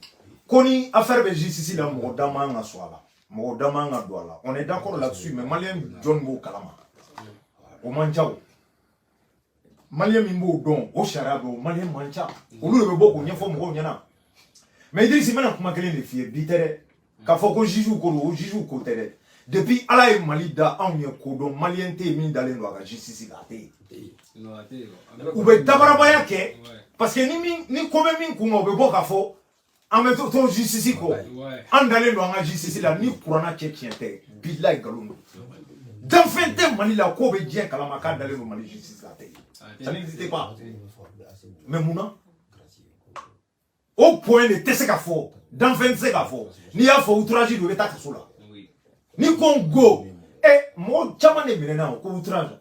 ko ni affaire bɛ justice la mɔgɔ da man ka su a la mɔgɔ da man ka don a la on est d'accord là-dessus mais maliyɛn joli b'o kalama o man ca o maliyɛn min b'o dɔn o sariya bɛ o maliyɛn man ca olu de bɛ bɔ k'o ɲɛfɔ mɔgɔw ɲɛna mais Idriss n bɛna kuma kelen de f'i ye bi tɛ dɛ k'a fɔ ko jugew ko don o jugew ko tɛ dɛ depuis ala ye mali da anw ye ko dɔn maliyɛn tɛ yen min dalen don a ka justice la a tɛ yen u bɛ dabarabaya kɛ parce que ni ko bɛ min kun kan u bɛ bɔ k'a fɔ an bɛ to to justice kɔ an dalen don an ka justice la ni kurana cɛ tiɲɛ tɛ bilayi nkalon don danfɛn tɛ mali la k'o bɛ diɲɛ kalama k'a dalen don mali justice la tɛ ça n'existe pas mais mun na o point de tɛ se ka fɔ danfɛn tɛ se ka fɔ n'i y'a fɔ outrage don i bɛ taa kaso la n'i ko ngo ɛ mɔgɔ caman de minɛna o ko outrage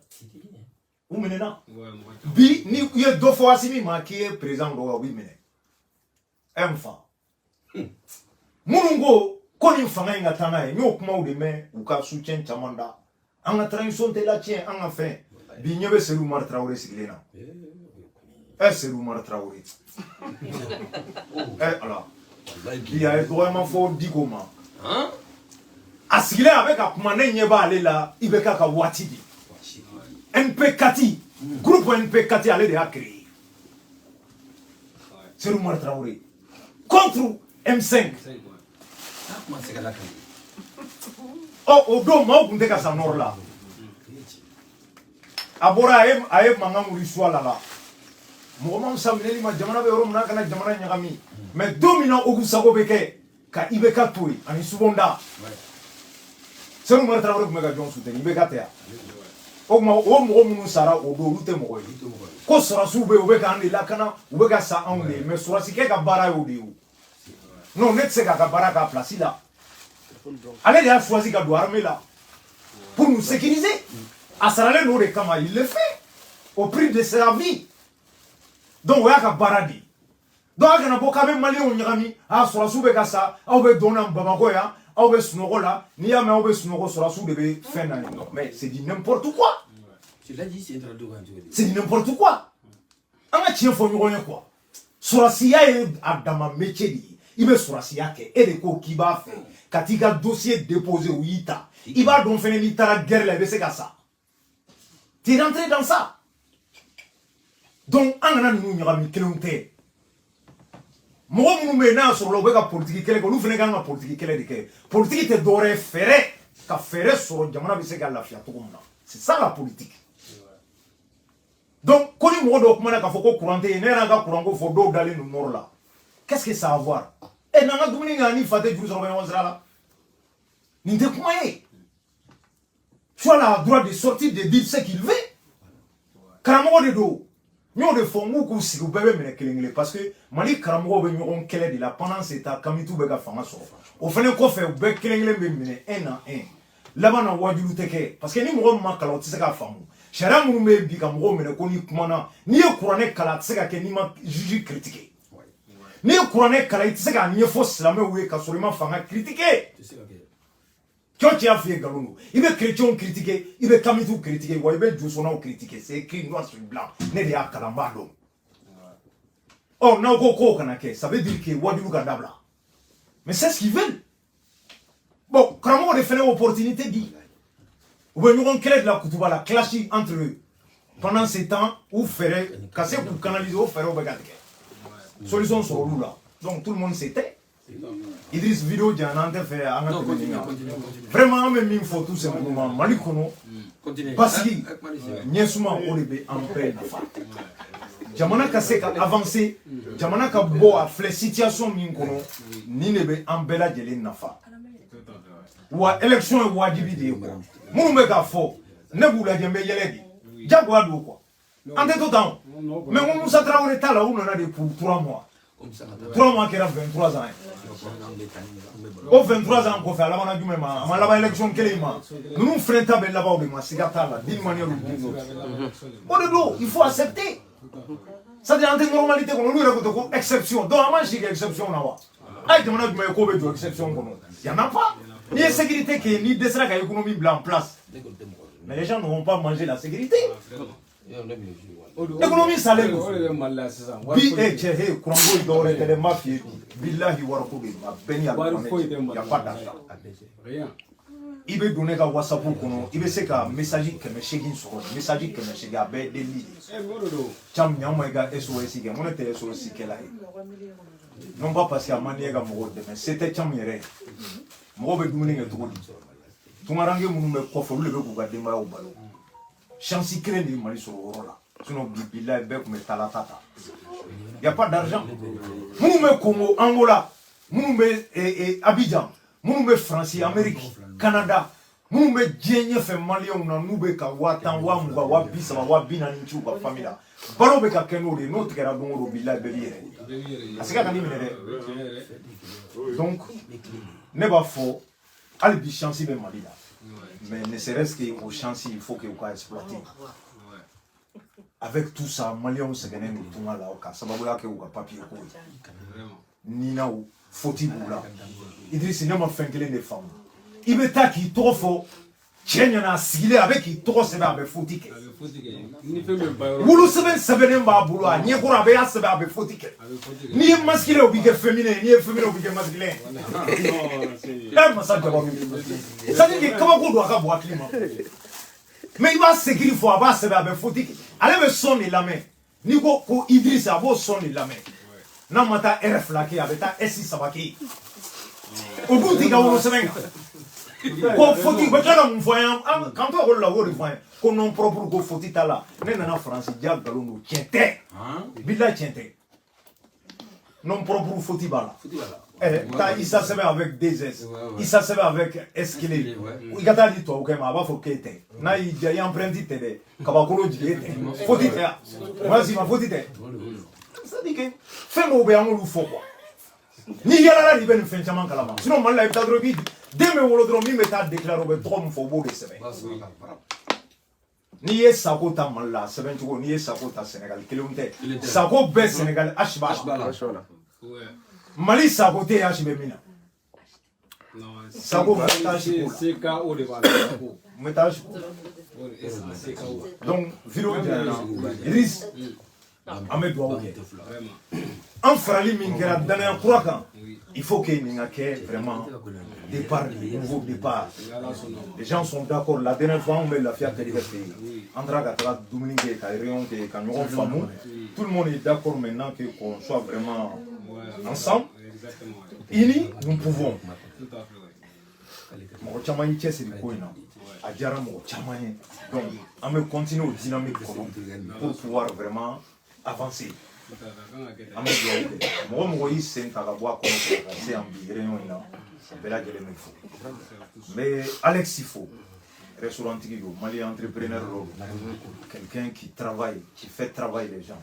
u minɛna bi ni i ye dɔ fɔ asimi ma k'i ye perezidan dɔgɔya u b'i minɛ ɛ n fa minnu ko ko nin fanga in ka taa n'a ye n y'o kumaw de mɛn u ka soutien caman da an ka transition de latiɲɛ an ka fɛn bi ɲɛ bɛ sedu umaru tarawele sigilen na ɛ sedu umaru tarawele ɛ ala bi a ye dɔgɔyama fɔ diko ma a sigilen a bɛ ka kuma ne ɲɛ b'ale la ibk ka waati de mp4 groupe mp4 ale de y'a créé sedu umaru tarawele contre m5 ɔ o don maaw tun tɛ ka sa nɔrɔ la a bɔra a ye a ye mankan wuli suwala la mɔgɔ ma fisa minɛli ma jamana bɛ yɔrɔ min na a kana jamana ɲagami mais don min na olu sago bɛ kɛ ka ibk to yen ani subonda sedu umaru tarawele tun bɛ ka jɔn suteni ibk tɛ wa o tuma o mɔgɔ minnu sara o don olu tɛ mɔgɔ ye ko sɔrɔsiw bɛ yen u bɛ k'an de lakana u bɛ ka sa anw de ye mais sɔrɔsikɛ ka baara y'o de ye non ne tɛ se k'a ka baara k'a place la ale de y'a choisi ka don armée la pour nous sécuriser a saralen don o de kama il le fait au prix de sa vie donc o y'a ka baara de ye donc a kana bɔ k'a bɛ maliyɛnw ɲagami a sɔrɔsiw bɛ ka sa aw bɛ dɔn na bamakɔ yan aw bɛ sunɔgɔ la n'i y'a mɛn aw bɛ sunɔgɔ sɔrɔsiw de bɛ fɛn na yen non mais c'est du n'importe quoi c'est du n'importe quoi an ka tiɲɛ fɔ ɲɔgɔn ye quoi sɔrɔsiya ye a dama métier de ye i bɛ sɔrɔsiya kɛ e de ko k'i b'a fɛ ka t'i ka dosiye depose u y'i ta i b'a dɔn fɛnɛ n'i taara guerre la i bɛ se ka sa tu es rentré dans ça donc an kana ninnu ɲagami kelen tɛ mɔgɔ minnu bɛ yen n'a sɔrɔla u bɛ ka politiki kɛlɛ kɛ olu fana kan ka politiki kɛlɛ de kɛ politiki tɛ dɔwɛrɛ ye fɛɛrɛ ka fɛɛrɛ sɔrɔ jamana bɛ se ka lafiya cogo min na c'est ça la politique donc ko ni mɔgɔ dɔw kumana k'a fɔ ko kuran tɛ yen ne yɛrɛ ka kuranko fɔ dɔw dalen don nɔrɔ la qu'est ce que ça a à voir e eh, n'an ka dumuni kɛ ani fa tɛ juru sɔrɔ bɛ ɲɔgɔn sira la nin tɛ kuma ye tu as le droit de sortir de dire ce qu'il veut karamɔgɔ de don n y'o de fɔ n k'u k'u sigi u bɛɛ bɛ minɛ kelen kelen parce que mali karamɔgɔw bɛ ɲɔgɔn kɛlɛ de la pendant ce temps kamitiw bɛ ka fanga sɔrɔ o fana kɔfɛ u bɛɛ kelen kelen bɛ minɛ un à un laban na waajuli tɛ kɛ parce que ni mɔgɔ min ma kalan o tɛ se k'a faamu sariya minnu bɛ yen bi ka mɔgɔw minɛ ko n'i kumana n'i ye kuranɛ kalan a tɛ se ka kɛ n'i ma juif critiquer n'i ye kuranɛ kalan i tɛ se k'a ɲɛfɔ silamɛw ye ka sɔrɔ i ma fanga critiquer cɔ cɛya f'i ye nkalon don i bɛ chrétienw critiquer i bɛ kamitiw critiquer wa i bɛ josɔnnaw critiquer c'est écrit noir sur blanc ne de y'a kalan n b'a dɔn ɔ n'aw ko k'o kana kɛ ça veut dire que waajuli ka dabila mais c'est ce qu'ils veulent bon karamɔgɔ de fana opportunité di u bɛ ɲɔgɔn kɛlɛ de la kutuba la clash entre eux pendant ce temps u fɛɛrɛ ka se k'u canaliser o fɛɛrɛw bɛ ka tigɛ solution sɔrɔ olu la donc tout le monde se tait Idriss vidéo janyana an tɛ fɛ an ka tɛmɛ nin kan vraiment an bɛ min fɔ tout simplement Mali kɔnɔ mm. basigi ɲɛsuma o de bɛ an bɛɛ nafa jamana ka se ka avancer jamana ka bɔ a filɛ situation min kɔnɔ nin de bɛ an bɛɛ lajɛlen nafa wa élection ye wajibi de ye quoi minnu bɛ k'a fɔ ne b'u lajɛ n bɛ yɛlɛ de jagoya don quoi an tɛ to tan o mais n ko musa tarawele ta la u nana de ko trois mois trois mois kɛra 23 ans ye o 23 ans kɔfɛ a labanna jumɛn ma a ma laban élection kelen ma ninnu fɛnɛ ta bɛ laban o de ma siga t'a la d'une manière ou d'une autre o de don il faut accepter c'est à dire an tɛ normalité kɔnɔ olu yɛrɛ ko ten ko exception donc an b'an si kɛ exception na wa a ye jamana jumɛn ye k'o bɛ jɔ exception kɔnɔ y'en a pas n'i ye sécurité kɛ n'i dɛsɛra ka économie bila en place mais les gens ne vont pas manger la sécurité économie salen don bi e cɛ he kuran ko ye dɔwɛrɛ tɛ dɛ n b'a f'i ye bi bilahi wariko bɛ yen a bɛɛ ni y a pas d'argent i bɛ don ne ka whatsapp kɔnɔ i bɛ se ka message kɛmɛ seegin sɔrɔ message kɛmɛ seegin a bɛɛ ye delili de ye caman ɲaw ma i ka sos kɛ mun ne tɛ sos kɛla ye non pas parce que a man di n ye ka mɔgɔw dɛmɛ se tɛ caman yɛrɛ ye mɔgɔw bɛ dumuni kɛ cogo di tungaranke minnu bɛ kɔfɛ olu de bɛ k'u ka denbayaw balo chance kelen de ye mali sɔrɔ o yɔrɔ la sinon bi bilayi bɛɛ tun bɛ talata ta y a pas d'argent minnu bɛ congo angola minnu bɛ eh, eh, abidjan minnu bɛ france amérique canada minnu bɛ diɲɛ ɲɛfɛ maliyɛnw na n'u bɛ ka waa tan waa mugan waa bi saba waa bi naani ci u ka fami la balo bɛ ka kɛ n'o de ye n'o tigɛra don o don bilayi bɛɛ b'i yɛrɛ a se ka ka ni minɛ dɛ donc ne b'a fɔ hali bi chance bɛ mali la mais ne serait ce que o chance il faut que u ka exploiter avec tout ça maliyɛnw sɛgɛnnen don tunga la ka sababuya kɛ u ka papiye ko ye ninaw foti b'u la idirisi ne ma fɛn kelen de faamu i bɛ taa k'i tɔgɔ fɔ cɛ ɲɛ na a sigilen a bɛ k'i tɔgɔ sɛbɛn a bɛ foti kɛ wolosɛbɛn sɛbɛnnen b'a bolo a ɲɛkɔrɔ a b'a sɛbɛn a bɛ foti kɛ n'i ye masculin o b'i kɛ féminin n'i ye féminin o b'i kɛ masculin ɛ masa jaba b'i bolo c'est à dire que kabako don a ka bon hakili ma mais i b'a s'écrire fɔ a b'a sɛbɛn a bɛ foti kɛ ale bɛ son de lamɛn n'i ko ko Idriss a b'o son de lamɛn n'a ma taa ɛrɛ fila kɛ a bɛ taa ɛsi saba kɛ o dun t'i ka wolosɛbɛn kan ko foti bɛ tila ka mun fɔ an ye k'an to ekɔli la o de fɔ an ye ko nom propre ko foti t'a la ne nana faransi jaa nkalon don tiɲɛ tɛ bilahi tiɲɛ tɛ Nom propre foti b'a la. Foti b'a la. Eh, taa Issa sɛbɛn avec deux S. Ouais, ouais. Issa sɛbɛn avec S kelen. Kelen, ouais. I ka taa a di tubabukɛ ma a b'a fɔ k'e tɛ. N'a y'i diya i empreinte tɛ dɛ. Kabakolo jigin e tɛ. Foti tɛ a. Wala si ma foti tɛ. C'est à dire que fɛn dɔw bɛ yen an k'olu fɔ quoi. N'i yalala de i bɛ nin fɛn caman kalama. Sinon Mali la i bɛ taa dɔrɔn i b'i den bɛ wolo dɔrɔn min bɛ taa déclarer o bɛ tɔgɔ min fɔ o b'o de sɛbɛn. Ba sɔrɔ ka bara. n'i ye sako ta mali la sɛbɛn cogo n'i ye sako ta sɛnɛgali kelenw tɛ sako bɛ sɛnɛgali asi b'a la mali sako tɛ asi bɛ min na sako bɛ taa si ko se ka o de b'a la sako n bɛ taa si ko donc video idriss an bɛ dugawu kɛ an farali min kɛra danaya kura kan il faut que nin ka kɛ vraiment départ euh nouveau départ les gens sont d'accord la dernière fois anw bɛ lafiya kɛrɛ fɛ yen an taara ka taga dumuni kɛ ka réunion kɛ ka ɲɔgɔn faamu tout le monde est d'accord maintenant que qu'on soit vraiment ensemble unis nous pouvons mɔgɔ caman y'i cɛsiri ko in na a diyara mɔgɔ caman ye donc an bɛ continuer o dynamique kɔnɔ pour pouvoir vraiment avancer an bɛ dugawu kɛ mɔgɔ o mɔgɔ y'i sen ta ka bɔ a kɔnɔ fɛ ka se yan bi réunion in na a bɛɛ lajɛlen bɛ fo n bɛ Alex fo restaurant tigi don Mali entrepreneur dɔ don quelqu'un qui travaille qui fait travailler les gens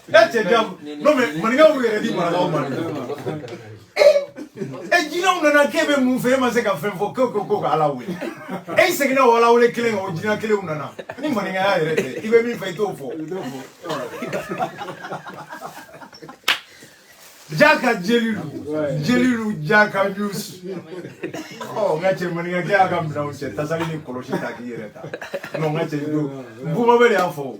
E cɛ jabu non mais maninkaw b'u yɛrɛ di marakaw ma dɛ e jinɛw nana k'e bɛ mun fɛ e ma se ka fɛn fɔ k'e ko ko ka ala wele e seginna o ala wele kelen kan o jinɛ kelenw nana ni maninkaya yɛrɛ tɛ i bɛ min fɛ i t'o fɔ jaka jelilu jelilu jaka jus ɔ n ka cɛ maninkakɛ y'a ka minɛnw cɛ tasali ni kɔlɔsi ta k'i yɛrɛ ta non n ka cɛ bumabɛ de y'a fɔ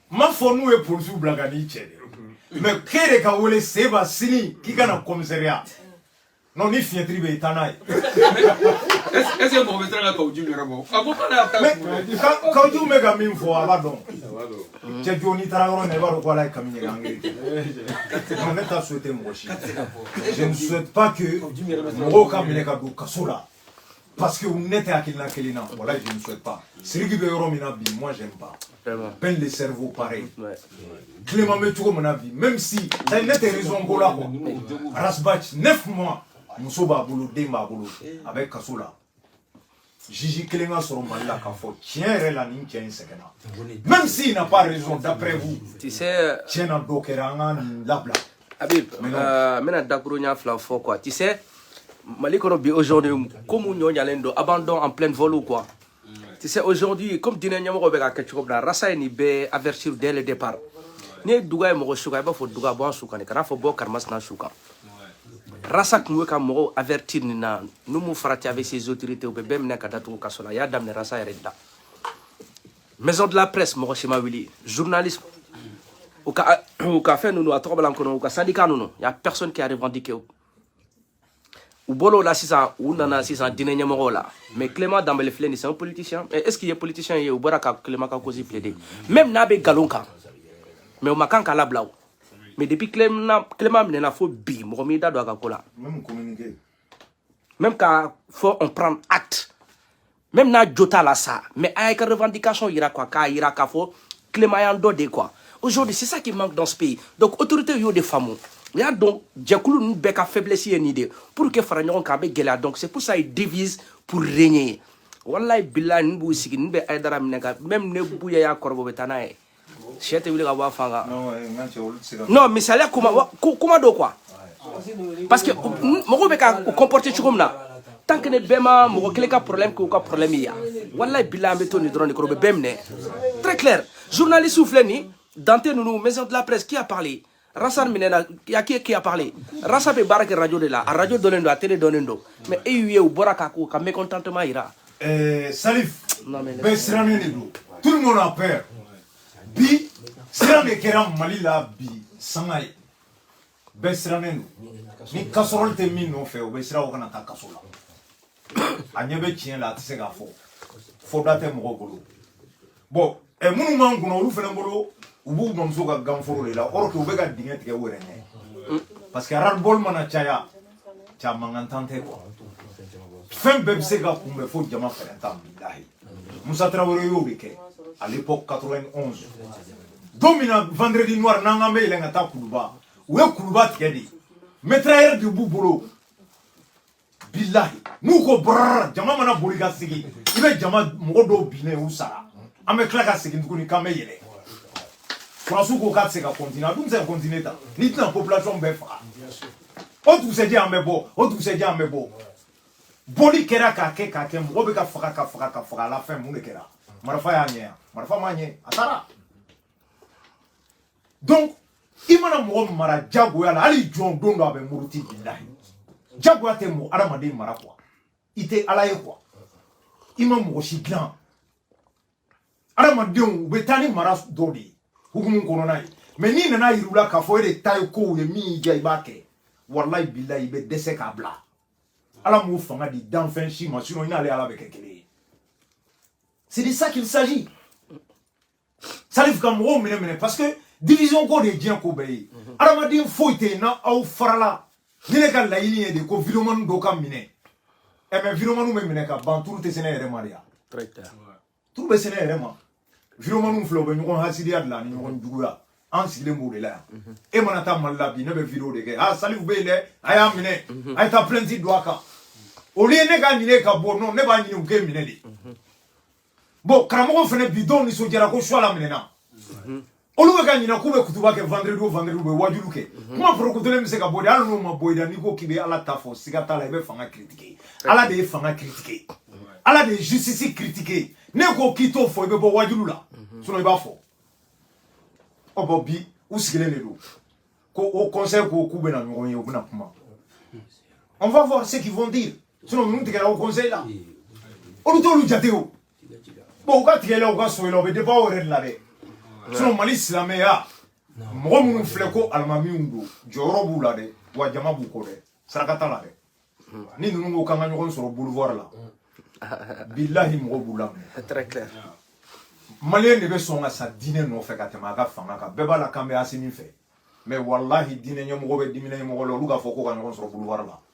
ma fɔ n'u ye polisiw bila ka n'i cɛ dɛ mais k'e de ka wele seba sini k'i ka na commissariat non ni fiɲɛtiri bɛ yen taa n'a ye est ce que mɔgɔ bɛ siran ka kaou djim yɛrɛ bɔ a ko k'ale y'a ta kaou djim bɛ ka min fɔ a b'a dɔn cɛ jo n'i taara yɔrɔ min na i b'a dɔn ko ala ye kami ɲɛgɛn angiri nka ne t'a souhaiter mɔgɔ si je ne souhaite pas que mɔgɔ ka minɛ ka don kaso la parce que ne tɛ hakilina kelen na voilà je ne souhaite pas siriki bɛ yɔrɔ min na bi moi j'aime pas ben le cerveau pareil clément bɛ cogo min na bi même si ne tɛ raison ko la quoi ras bath neuf mois muso b'a bolo den b'a bolo a bɛ kaso la juge kelen ka sɔrɔ mali la k'a fɔ tiɲɛ yɛrɛ la nin cɛ in sɛgɛnna même s'il n'a pas raison d'après vous tiɲɛ na dɔ kɛra an ka nin labila Habib, n bɛna dakurunya fila fɔ quoi. Tu sais, Mali kɔnɔ bi aujourd'hui ko mun ɲɔ ɲalen don abandon en pleine vol quoi. Tu sais, aujourd'hui comme diinɛ ɲɛmɔgɔ bɛ ka kɛ cogo min na, Rasa ye nin bɛɛ avertir dès le départ. N'i ye duga ye mɔgɔ su kan, i b'a fɔ duga bɔ an su kan de, kana fɔ bɔ karimasina su kan. Rasa tun bɛ ka mɔgɔw avertir nin na, n'u m'u farati avec ses autorités, u bɛ bɛɛ minɛ ka datugu kaso la. A y'a daminɛ Rasa yɛrɛ de la. maison de la presse mɔgɔ si ma wuli journaliste u ka u ka fɛn ninnu a tɔgɔ bɔra n kɔnɔ u ka syndicat ninnu y a personne qui a revendiqué u bɔr'o la sisan u nana sisan diinɛ ɲɛmɔgɔw la mais clément danbele filɛ nin c'est un politicien est ce qu'i ye politicien ye u bɔra ka clément ka cause plaider même n'a bɛ nkalon kan mais u man kan k'a labila o mais depuis clément clément minɛna fo bi mɔgɔ m'i da don a ka ko la même communiqué même ka fɔ on prend acte même n'a jo t'a la sa mais a y'a ka revendication yira quoi k'a yira k'a fɔ clément y'an dɔ de quoi aujourd'hui c'est ça qui manque dans ce pays donc autorité y'o de faamu u y'a dɔn jɛkulu ninnu bɛɛ ka faiblesse ye nin de pour que fara ɲɔgɔn kan a bɛ gɛlɛya donc c'est pour ça ils divisent pour régner wallahi billahi nin b'u sigi nin bɛ ayidara minɛ ka même ni buye y'a kɔrɔbɔ u bɛ taa n'a ye cɛ tɛ wuli ka bɔ a fan kan non misaliya kuma don quoi parce que mɔgɔw bɛ ka u comporter cogo min na tant que ni bɛɛ ma mɔgɔ kelen ka problème k'u ka problème ye yan walayi bilahi an bɛ to nin dɔrɔn de kɔrɔ u bɛ bɛɛ minɛ très clair journalistew filɛ nin dante ninnu maison de la presse qui a parlé rasa minɛna y a qui qui a parlé rasa bɛ baara kɛ radio de la a radio dɔnnen don a télé dɔnnen don mais e y'u ye u bɔra ka k'u ka mécontentement jira eh, salif bɛɛ sirannen de don tout le monde a peur bi siran de kɛra mali la bi sanga ye bɛɛ sirannen don ni casserole tɛ min nɔfɛ o bɛ siran o kana taa kaso la a ɲɛ bɛ tiɲɛ la a tɛ se k'a fɔ fɔ da tɛ mɔgɔ bolo bon ɛ minnu b'an kunna olu fana bolo u b'u bamuso ka ganforo de la kɔrɔ k'u bɛ ka dingɛ tigɛ u yɛrɛ ɲɛ parce que ras-le-bol mana caya ca mankan tan tɛ quoi fɛn bɛɛ bɛ se ka kunbɛn fo jama fɛɛrɛntan bilahi musa tarawele y'o de kɛ à l'époque 91 don min na vendredi noir n'an k'an bɛ yɛlɛn ka taa kuluba u ye kuluba tigɛ de mitrailleur de b'u bolo bilahi n'u ko brrr jama mana boli ka sigi i bɛ jama mɔgɔ dɔw binnen u sara an bɛ tila ka segin tuguni k'an bɛ yɛlɛn sɔrɔdasiw ko k'a tɛ se ka kɔntine a dun tɛ se ka kɔntine tan n'i tɛna population bɛɛ faga o dugusɛjɛ an bɛ bɔ o dugusɛjɛ an bɛ bɔ bɔli kɛra k'a kɛ k'a kɛ mɔgɔ bɛ ka faga ka faga ka faga à la fin mun de kɛra marifa y'a ɲɛ wa marifa m'a ɲɛ a taara donc i mana mɔgɔ mara jagoya la hali jɔn don dɔ a bɛ muruti bilahi jagoya tɛ mɔgɔ adamaden mara quoi i tɛ ala ye quoi i ma mɔgɔ si dilan adamadenw u bɛ taa ni mara dɔ de ye hukumu kɔnɔna ye mais n'i nana yir'u la k'a fɔ e de ta ye kow ye min y'i diya i b'a kɛ walayi bilayi i bɛ dɛsɛ k'a bila ala m'o fanga di danfɛn si ma sinon i n'ale ala bɛ kɛ kelen ye c'est de ça qu'il s'agit salifu ka mɔgɔw minɛ minɛ parce que division ko de ye diɲɛ ko bɛɛ ye adamaden foyi tɛ yen n'aw farala ni ne ka laɲini ye de ko videomani dɔw ka minɛ ɛ mais videomaniw bɛ minɛ ka ban turu tɛ se ne yɛrɛ ma de ya turu bɛ se ne yɛrɛ ma videomaniw filɛ u bɛ ɲɔgɔn hasidiya de la ani ɲɔgɔn juguya an sigilen b'o de la yan e mana taa mali la bi ne bɛ video de kɛ a salifu bɛ yen dɛ a y'a minɛ a ye taa plainte don a kan au lieu ne k'a ɲini k'a bɔ non ne b'a ɲini u k'e minɛ de bon karamɔgɔ fana bi dɔw nisɔndiyara ko chouala minɛna olu bɛ ka ɲinɛ k'u bɛ kutuba kɛ vendredi o vendredi u bɛ wajuliw kɛ kuma porokotolen bɛ se ka bɔ de hali n'o ma bɔ i da n'i ko k'i bɛ ala ta fɔ siga t'a la i bɛ fanga critiquer ala de ye fanga critiquer ala de ye justice critiquer n'i ko k'i t'o fɔ i bɛ bɔ wajuliw la sinon i b'a fɔ ɔ bon bi u sigilen de don ko haut conseil ko k'u bɛna ɲɔgɔn ye u bɛna kuma on va voir ce qu'ils vont dire sinon ninnu tigɛra haut conseil la olu t'olu jate o bon u ka tigɛ la u ka so la u bɛ dépend u yɛrɛ de la dɛ sinon mali silamɛya mɔgɔ minnu filɛ ko alimamiw don jɔyɔrɔ b'u la dɛ wa jama b'u kɔ dɛ saraka t'a la dɛ ni ninnu ko k'an ka ɲɔgɔn sɔrɔ boulevard la bilahi mɔgɔ b'u laminɛ maliyɛn de bɛ sɔn ka sa diinɛ nɔfɛ ka tɛmɛ a ka fanga kan bɛɛ b'a la k'an bɛ asimi fɛ mais walahi diinɛ ɲɛmɔgɔ bɛ diinɛ ɲɛmɔgɔ la olu k'a fɔ ko ka ɲɔgɔn sɔrɔ boulevard la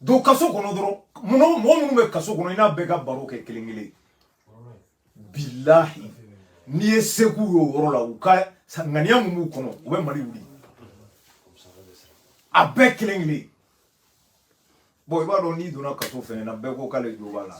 don kaso kɔnɔ dɔrɔn mɔgɔ minnu bɛ kaso kɔnɔ i n'a bɛɛ ka baro kɛ kelen kelen bilahi n'i ye seko ye o yɔrɔ la u ka ŋaniya min b'u kɔnɔ u bɛ mali wuli a bɛɛ kelen kelen bon i b'a dɔn n'i donna kaso fɛnɛ na bɛɛ ko k'ale jo b'a la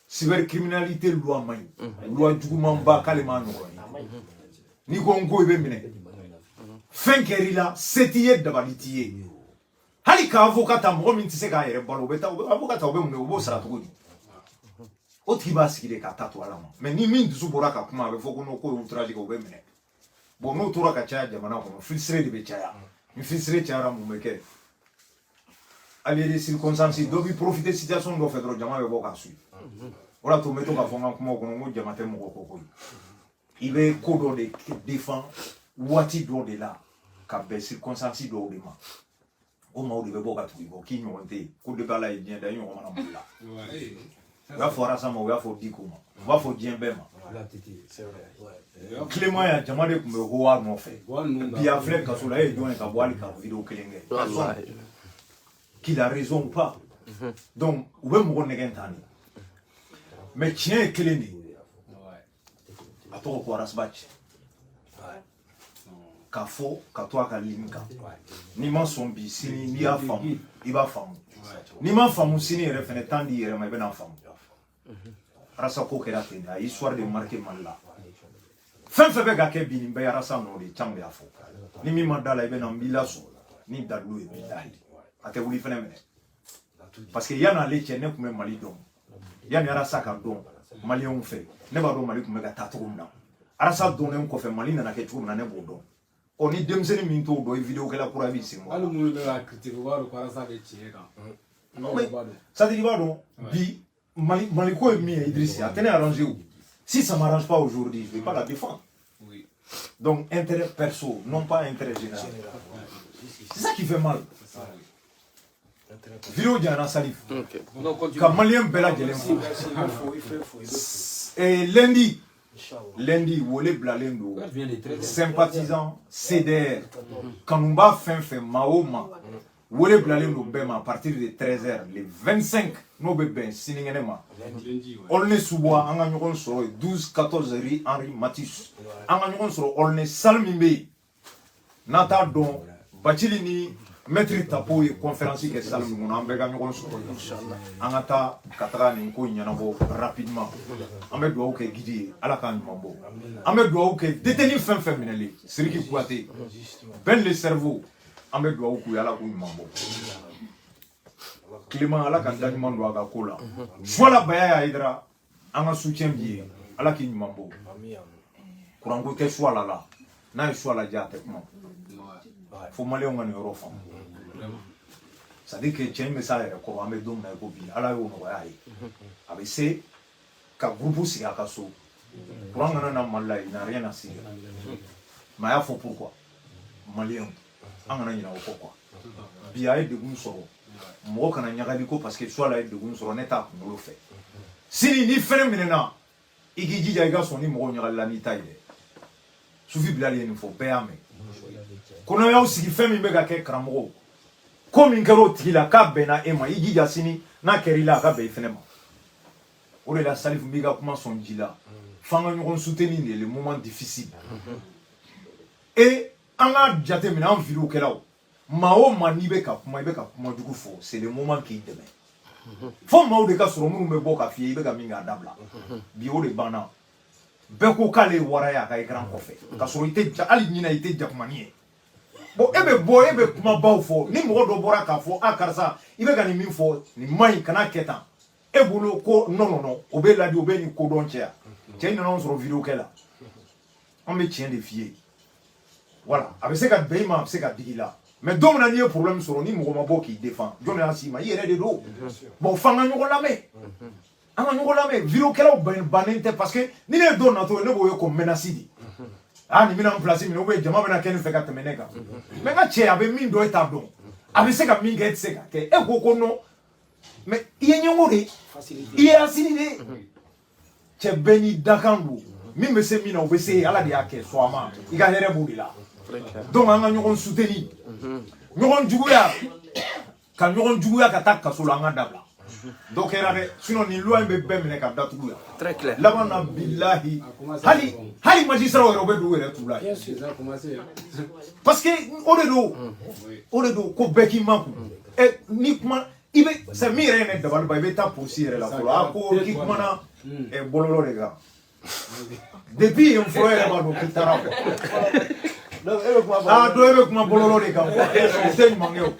cybercriminalité loi man ɲi mhm. loi jugumanba k'ale m'a ɲɔgɔn ye mhm. n'i ko n ko i bɛ minɛ fɛn kɛra i la se t'i ye dabali t'i ye hali ka avocat ta mɔgɔ min tɛ se k'a yɛrɛ balo o bɛ taa avocat ta o bɛ mun kɛ o b'o sara cogo di o tigi b'a sigi de k'a ta to ala ma mais ni min dusu bɔra ka kuma a bɛ fɔ ko n'o ko ye outrage kɛ o bɛ minɛ bon n'o tora ka caya jamana kɔnɔ frustré de bɛ caya ni frustré cayara mun bɛ kɛ allié de circonstance dɔ bi profiter situation dɔ fɛ dɔrɔn jama bɛ bɔ k'a suit o la to n bɛ to k'a fɔ n ka kumaw kɔnɔ n ko jama tɛ mɔgɔ kɔ koyi i bɛ ko dɔ de défend waati dɔ de la ka bɛn circonstance dɔw de ma o maaw de bɛ bɔ ka tugu i kɔ k'i ɲɔgɔn tɛ yen ko depuis ala ye diɲɛ da i ɲɔgɔn ma na mali la u y'a fɔ arasa ma u y'a fɔ diko ma u b'a fɔ diɲɛ bɛɛ ma clément ya jama de tun bɛ ko wa nɔfɛ bi a filɛ kaso la e ye jɔn ye ka bɔ hali ka video kelen kɛ qu'il a raison ou pas donc u bɛ mɔgɔ nɛgɛn tan de mais tiɲɛ ye kelen de ye A tɔgɔ ko Ras Bath. Ouais. Kafo, katwa kalimika. N'i ma sɔn bi sini n'i y'a faamu, i b'a faamu. N'i m'a faamu sini yɛrɛ fɛnɛ temps di i yɛrɛ ma i bɛna a faamu. Arasa ko kɛra ten de, a ye histoire de marquer Mali la. Fɛn fɛn bɛ ka kɛ bi nin bɛɛ arasa nɔ de can y'a fɔ. Ni min ma da a la i bɛ na n b'i lasɔn. Ni dalu ye bilahi. A tɛ wuli fɛnɛ minɛ. Parce que yanni ale cɛ ne tun bɛ Mali dɔn. yanni arasa ka dɔn maliyɛnw fɛ ne b'a dɔn mali tun bɛ ka taa cogo min na arasa donnen kɔfɛ mali nana kɛ cogo min na ne b'o dɔn ɔ ni denmisɛnnin min t'o dɔn i vidéokɛla kura b'i sen bɔ hali minnu bɛ ka critiquer u b'a dɔn ko arasa bɛ tiɲɛ kan c'est à dire i b'a dɔn bi mali ko ye min ye idrisa a tɛ ne arranger o si ça m'arrange pas aujourd'hui je vais pas la défendre donc intérêt perso non pas intérêt général c'est ça qui fait mal video janyana salif okay. ka maliyɛn bɛɛ lajɛlen fo eh, lundi lundi wele bilalen don sympathisant cdr kanunba fɛn fɛn ma o ma wele bilalen don bɛɛ ma à partir de 13 heures le 25 n'o bɛ bɛn sininkɛnɛ ma aulnay-sous-bois an ka ɲɔgɔn sɔrɔ 12 14 rue henri matisse an ka ɲɔgɔn sɔrɔ aulnay salle min bɛ yen n'aw t'a dɔn bacili ni maître tapo ye kɔnferansi kɛ salle min kɔnɔ an bɛɛ ka ɲɔgɔn sɔrɔ an ka taa ka taga nin ko ɲɛnabɔ rapidement an bɛ dugawu kɛ guide ye ala k'a ɲuman bɔ an bɛ dugawu kɛ détenu fɛn fɛn minɛlen siriki kuyate ben le cerveau an bɛ dugawu k'u ye ala k'u ɲuman bɔ clément ala ka da ɲuman don a ka ko la suwala bayaya ayidara an ka soutien b'i ye ala k'i ɲuman bɔ kuranko tɛ suwala la n'a ye suwala diya a tɛ kuma fo maliyɛnw ka nin yɔrɔ faamu c'est à dire que cɛ in bɛ s'a yɛrɛ kɔrɔ an bɛ don min na i ko bi ala y'o nɔgɔya a ye a bɛ se ka groupe sigi a ka so kuran kana na mali la il n'a rien à cirer mais a y'a fɔ pourquoi maliyɛnw an kana ɲinɛ o kɔ quoi bi a ye degun sɔrɔ mɔgɔ kana ɲagali ko parce que suwala ye degun sɔrɔ ne t'a kunkolo fɛ sini n'i fɛnɛ minɛna i k'i jija i ka sɔn ni mɔgɔw ɲagalila n'i ta ye dɛ sufi bilali ye nin fɔ bɛɛ y'a mɛn ko n'aw y'aw sigi fɛn min bɛ ka kɛ karamɔgɔw ko min kɛra o tigi la k'a bɛnna e ma i jija sini n'a kɛra i la a ka bɛn i fɛnɛ ma o de la salifu b'i ka kuma sɔn ji la f'an ka ɲɔgɔn soutenir dans les moments difficiles et an k'a jateminɛ an video kɛlaw maa o maa n'i bɛ ka kuma i bɛ ka kuma jugu fɔ c'est le moment k'i dɛmɛ fo maaw de ka sɔrɔ minnu bɛ bɔ ka f'i ye i bɛ ka min k'a dabila bi o de banna bɛɛ ko k'ale ye wara ye a ka ekran kɔfɛ ka sɔrɔ i tɛ ja hali ɲina i tɛ jakumani ye bon e bɛ bɔ e bɛ kumabaw fɔ ni mɔgɔ dɔ bɔra k'a fɔ a karisa i bɛ ka nin min fɔ nin man ɲi kana kɛ tan e bolo ko non non non o bɛ ladi o bɛ nin ko dɔn cɛ yan cɛ in nana anw sɔrɔ video kɛ la an bɛ tiɲɛ de f'i ye voilà a bɛ se ka bɛn i ma a bɛ se ka digi i la mais don min na n'i ye problème sɔrɔ ni mɔgɔ ma bɔ k'i défend jɔn de y'a s'i ma i yɛrɛ de don bon f'an ka ɲɔgɔn lamɛn an ka ɲɔgɔn lamɛn video kɛlaw bɛnnen tɛ parce que ni ne ye dɔ natɔ ye ne b'o ye ko menace de aa nin bɛna n place minɛ ubiyɛn jama bɛna kɛ nin fɛ ka tɛmɛ ne kan mais nka cɛ a bɛ min dɔn e t'a dɔn a bɛ se ka min kɛ e tɛ se k'a kɛ e ko ko non mais i ye ɲɛngo de i ye hasidi de cɛ bɛɛ n'i dakan don min bɛ se min na o bɛ se ala de y'a kɛ sɔn a ma i ka hɛrɛ b'o de la donc an ka ɲɔgɔn soutenir ɲɔgɔn juguya ka ɲɔgɔn juguya ka taa kaso la an k'a dabila dɔ kɛra dɛ sinon nin loi in bɛ bɛɛ minɛ ka datugu yan laban na bilahi hali hali majisiraw yɛrɛ u bɛ don u yɛrɛ t'u la parce que o de don o de don ko bɛɛ k'i makun ɛ eh, ni kuma i bɛ sa min yɛrɛ ye ne dabali ban i bɛ taa polisi yɛrɛ la fɔlɔ a ko k'i kumana ɛ bɔlɔlɔ de kan depuis yen fɔlɔ yɛrɛ b'a dɔn k'i taara quoi aa dɔ e bɛ kuma bɔlɔlɔ de kan o tɛ ɲuman kɛ o.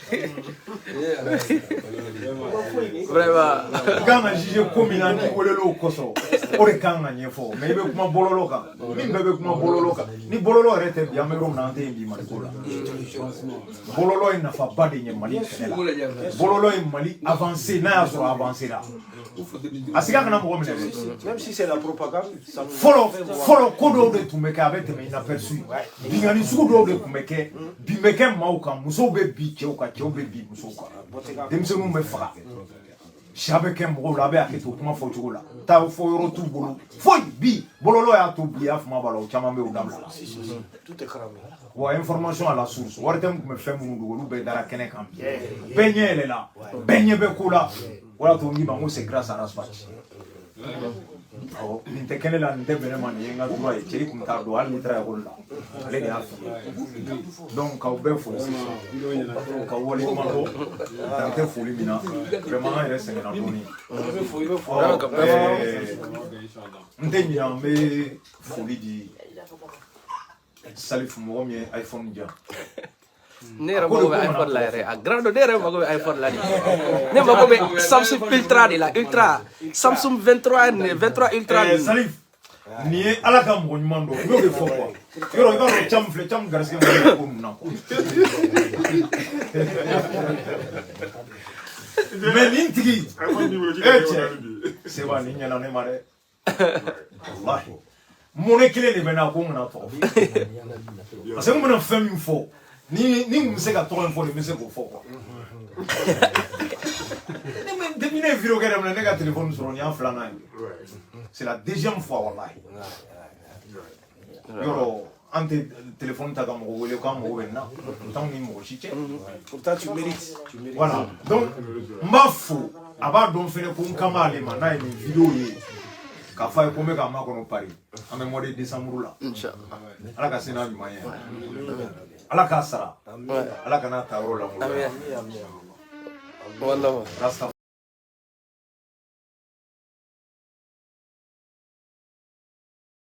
i kan ka juge ko min na n'i welela o kosɔn o de kan ka ɲɛfɔ mais i bɛ kuma bɔlɔlɔ kan min bɛɛ bɛ kuma bɔlɔlɔ kan ni bɔlɔlɔ yɛrɛ tɛ bi an bɛ yɔrɔ min na an tɛ yen bi mali ko la. bɔlɔlɔ ye nafaba de ɲɛ mali kɛlɛ la bɔlɔlɔ ye mali avanse n'a y'a sɔrɔ avanse la a siga kana mɔgɔ minɛ fɔlɔ fɔlɔ ko dɔw de tun bɛ kɛ a bɛ tɛmɛ inaperçu binkanni sugu dɔw de tun bɛ kɛ bin bɛ kɛ maaw kan musow bɛ bin cɛw kan cɛw bɛ bin musow kan denmisɛnninw bɛ faga siya bɛ kɛ mɔgɔw la a bɛ hakɛ to kuma fɔ cogo la taa fɔ yɔrɔ t'u bolo foyi bi bɔlɔlɔ y'a to bi y'a fama b'a la o caman bɛ o dabila wa information à la source ORTM tun bɛ fɛn minnu dogo olu bɛɛ dara kɛnɛ kan bi bɛɛ ɲɛ yɛlɛla bɛɛ ɲɛ bɛ ko la o y'a to n k'i ma n ko c'est grâce à Ras Bath awɔ nin tɛ kɛ ne la nin tɛ bɛn ne ma nin ye n ka droit ye cɛ i tun t'a dɔn hali n'i taara ekɔli la ale de y'a fili donc k'aw bɛɛ fo k'aw waleɲumandɔn dan tɛ foli min na vraiment an yɛrɛ sɛgɛnna dɔɔni n tɛ ɲinɛ an bɛ foli di a ti salif mɔgɔ min ye iphone di yan ne yɛrɛ mago bɛ iphone la yɛrɛ a grand don ne yɛrɛ mago bɛ iphone la de ne mago bɛ samsung ultra de la ultra samsung 23 ne 23 ultra Eh, salif nin ye ala ka mɔgɔ ɲuman dɔ n'o de fɔ quoi yɔrɔ i b'a dɔn caman filɛ caman garisigɛ ma kɛ ko ninnu na quoi mais nin tigi e cɛ seba nin ɲɛna ne ma dɛ mɔnɛ kelen de bɛ n na ko n kan'a tɔgɔ fɔ parce que n bɛna fɛn min fɔ ni ni n bɛ se ka tɔgɔ in fɔ ne bɛ se k'o fɔ quoi ne ma depuis ne ye video kɛ daminɛ ne ka telefɔni sɔrɔ nin y'a filanan ye c'est la deuxième fois walahi yɔrɔ an tɛ telefɔni ta ka mɔgɔ wele k'an mago bɛ nin na o t'anw ni mɔgɔ si cɛ pourtant tu mérites voilà donc n b'a fo a b'a dɔn fɛnɛ ko n kan b'ale ma n'a ye nin video ye k'a fɔ a ye ko n bɛ k'a makɔnɔ Paris an bɛ mois de décembre la ala ka se n'a ɲuman ye ala k'a sara ala kan'a ta yɔrɔ lankolon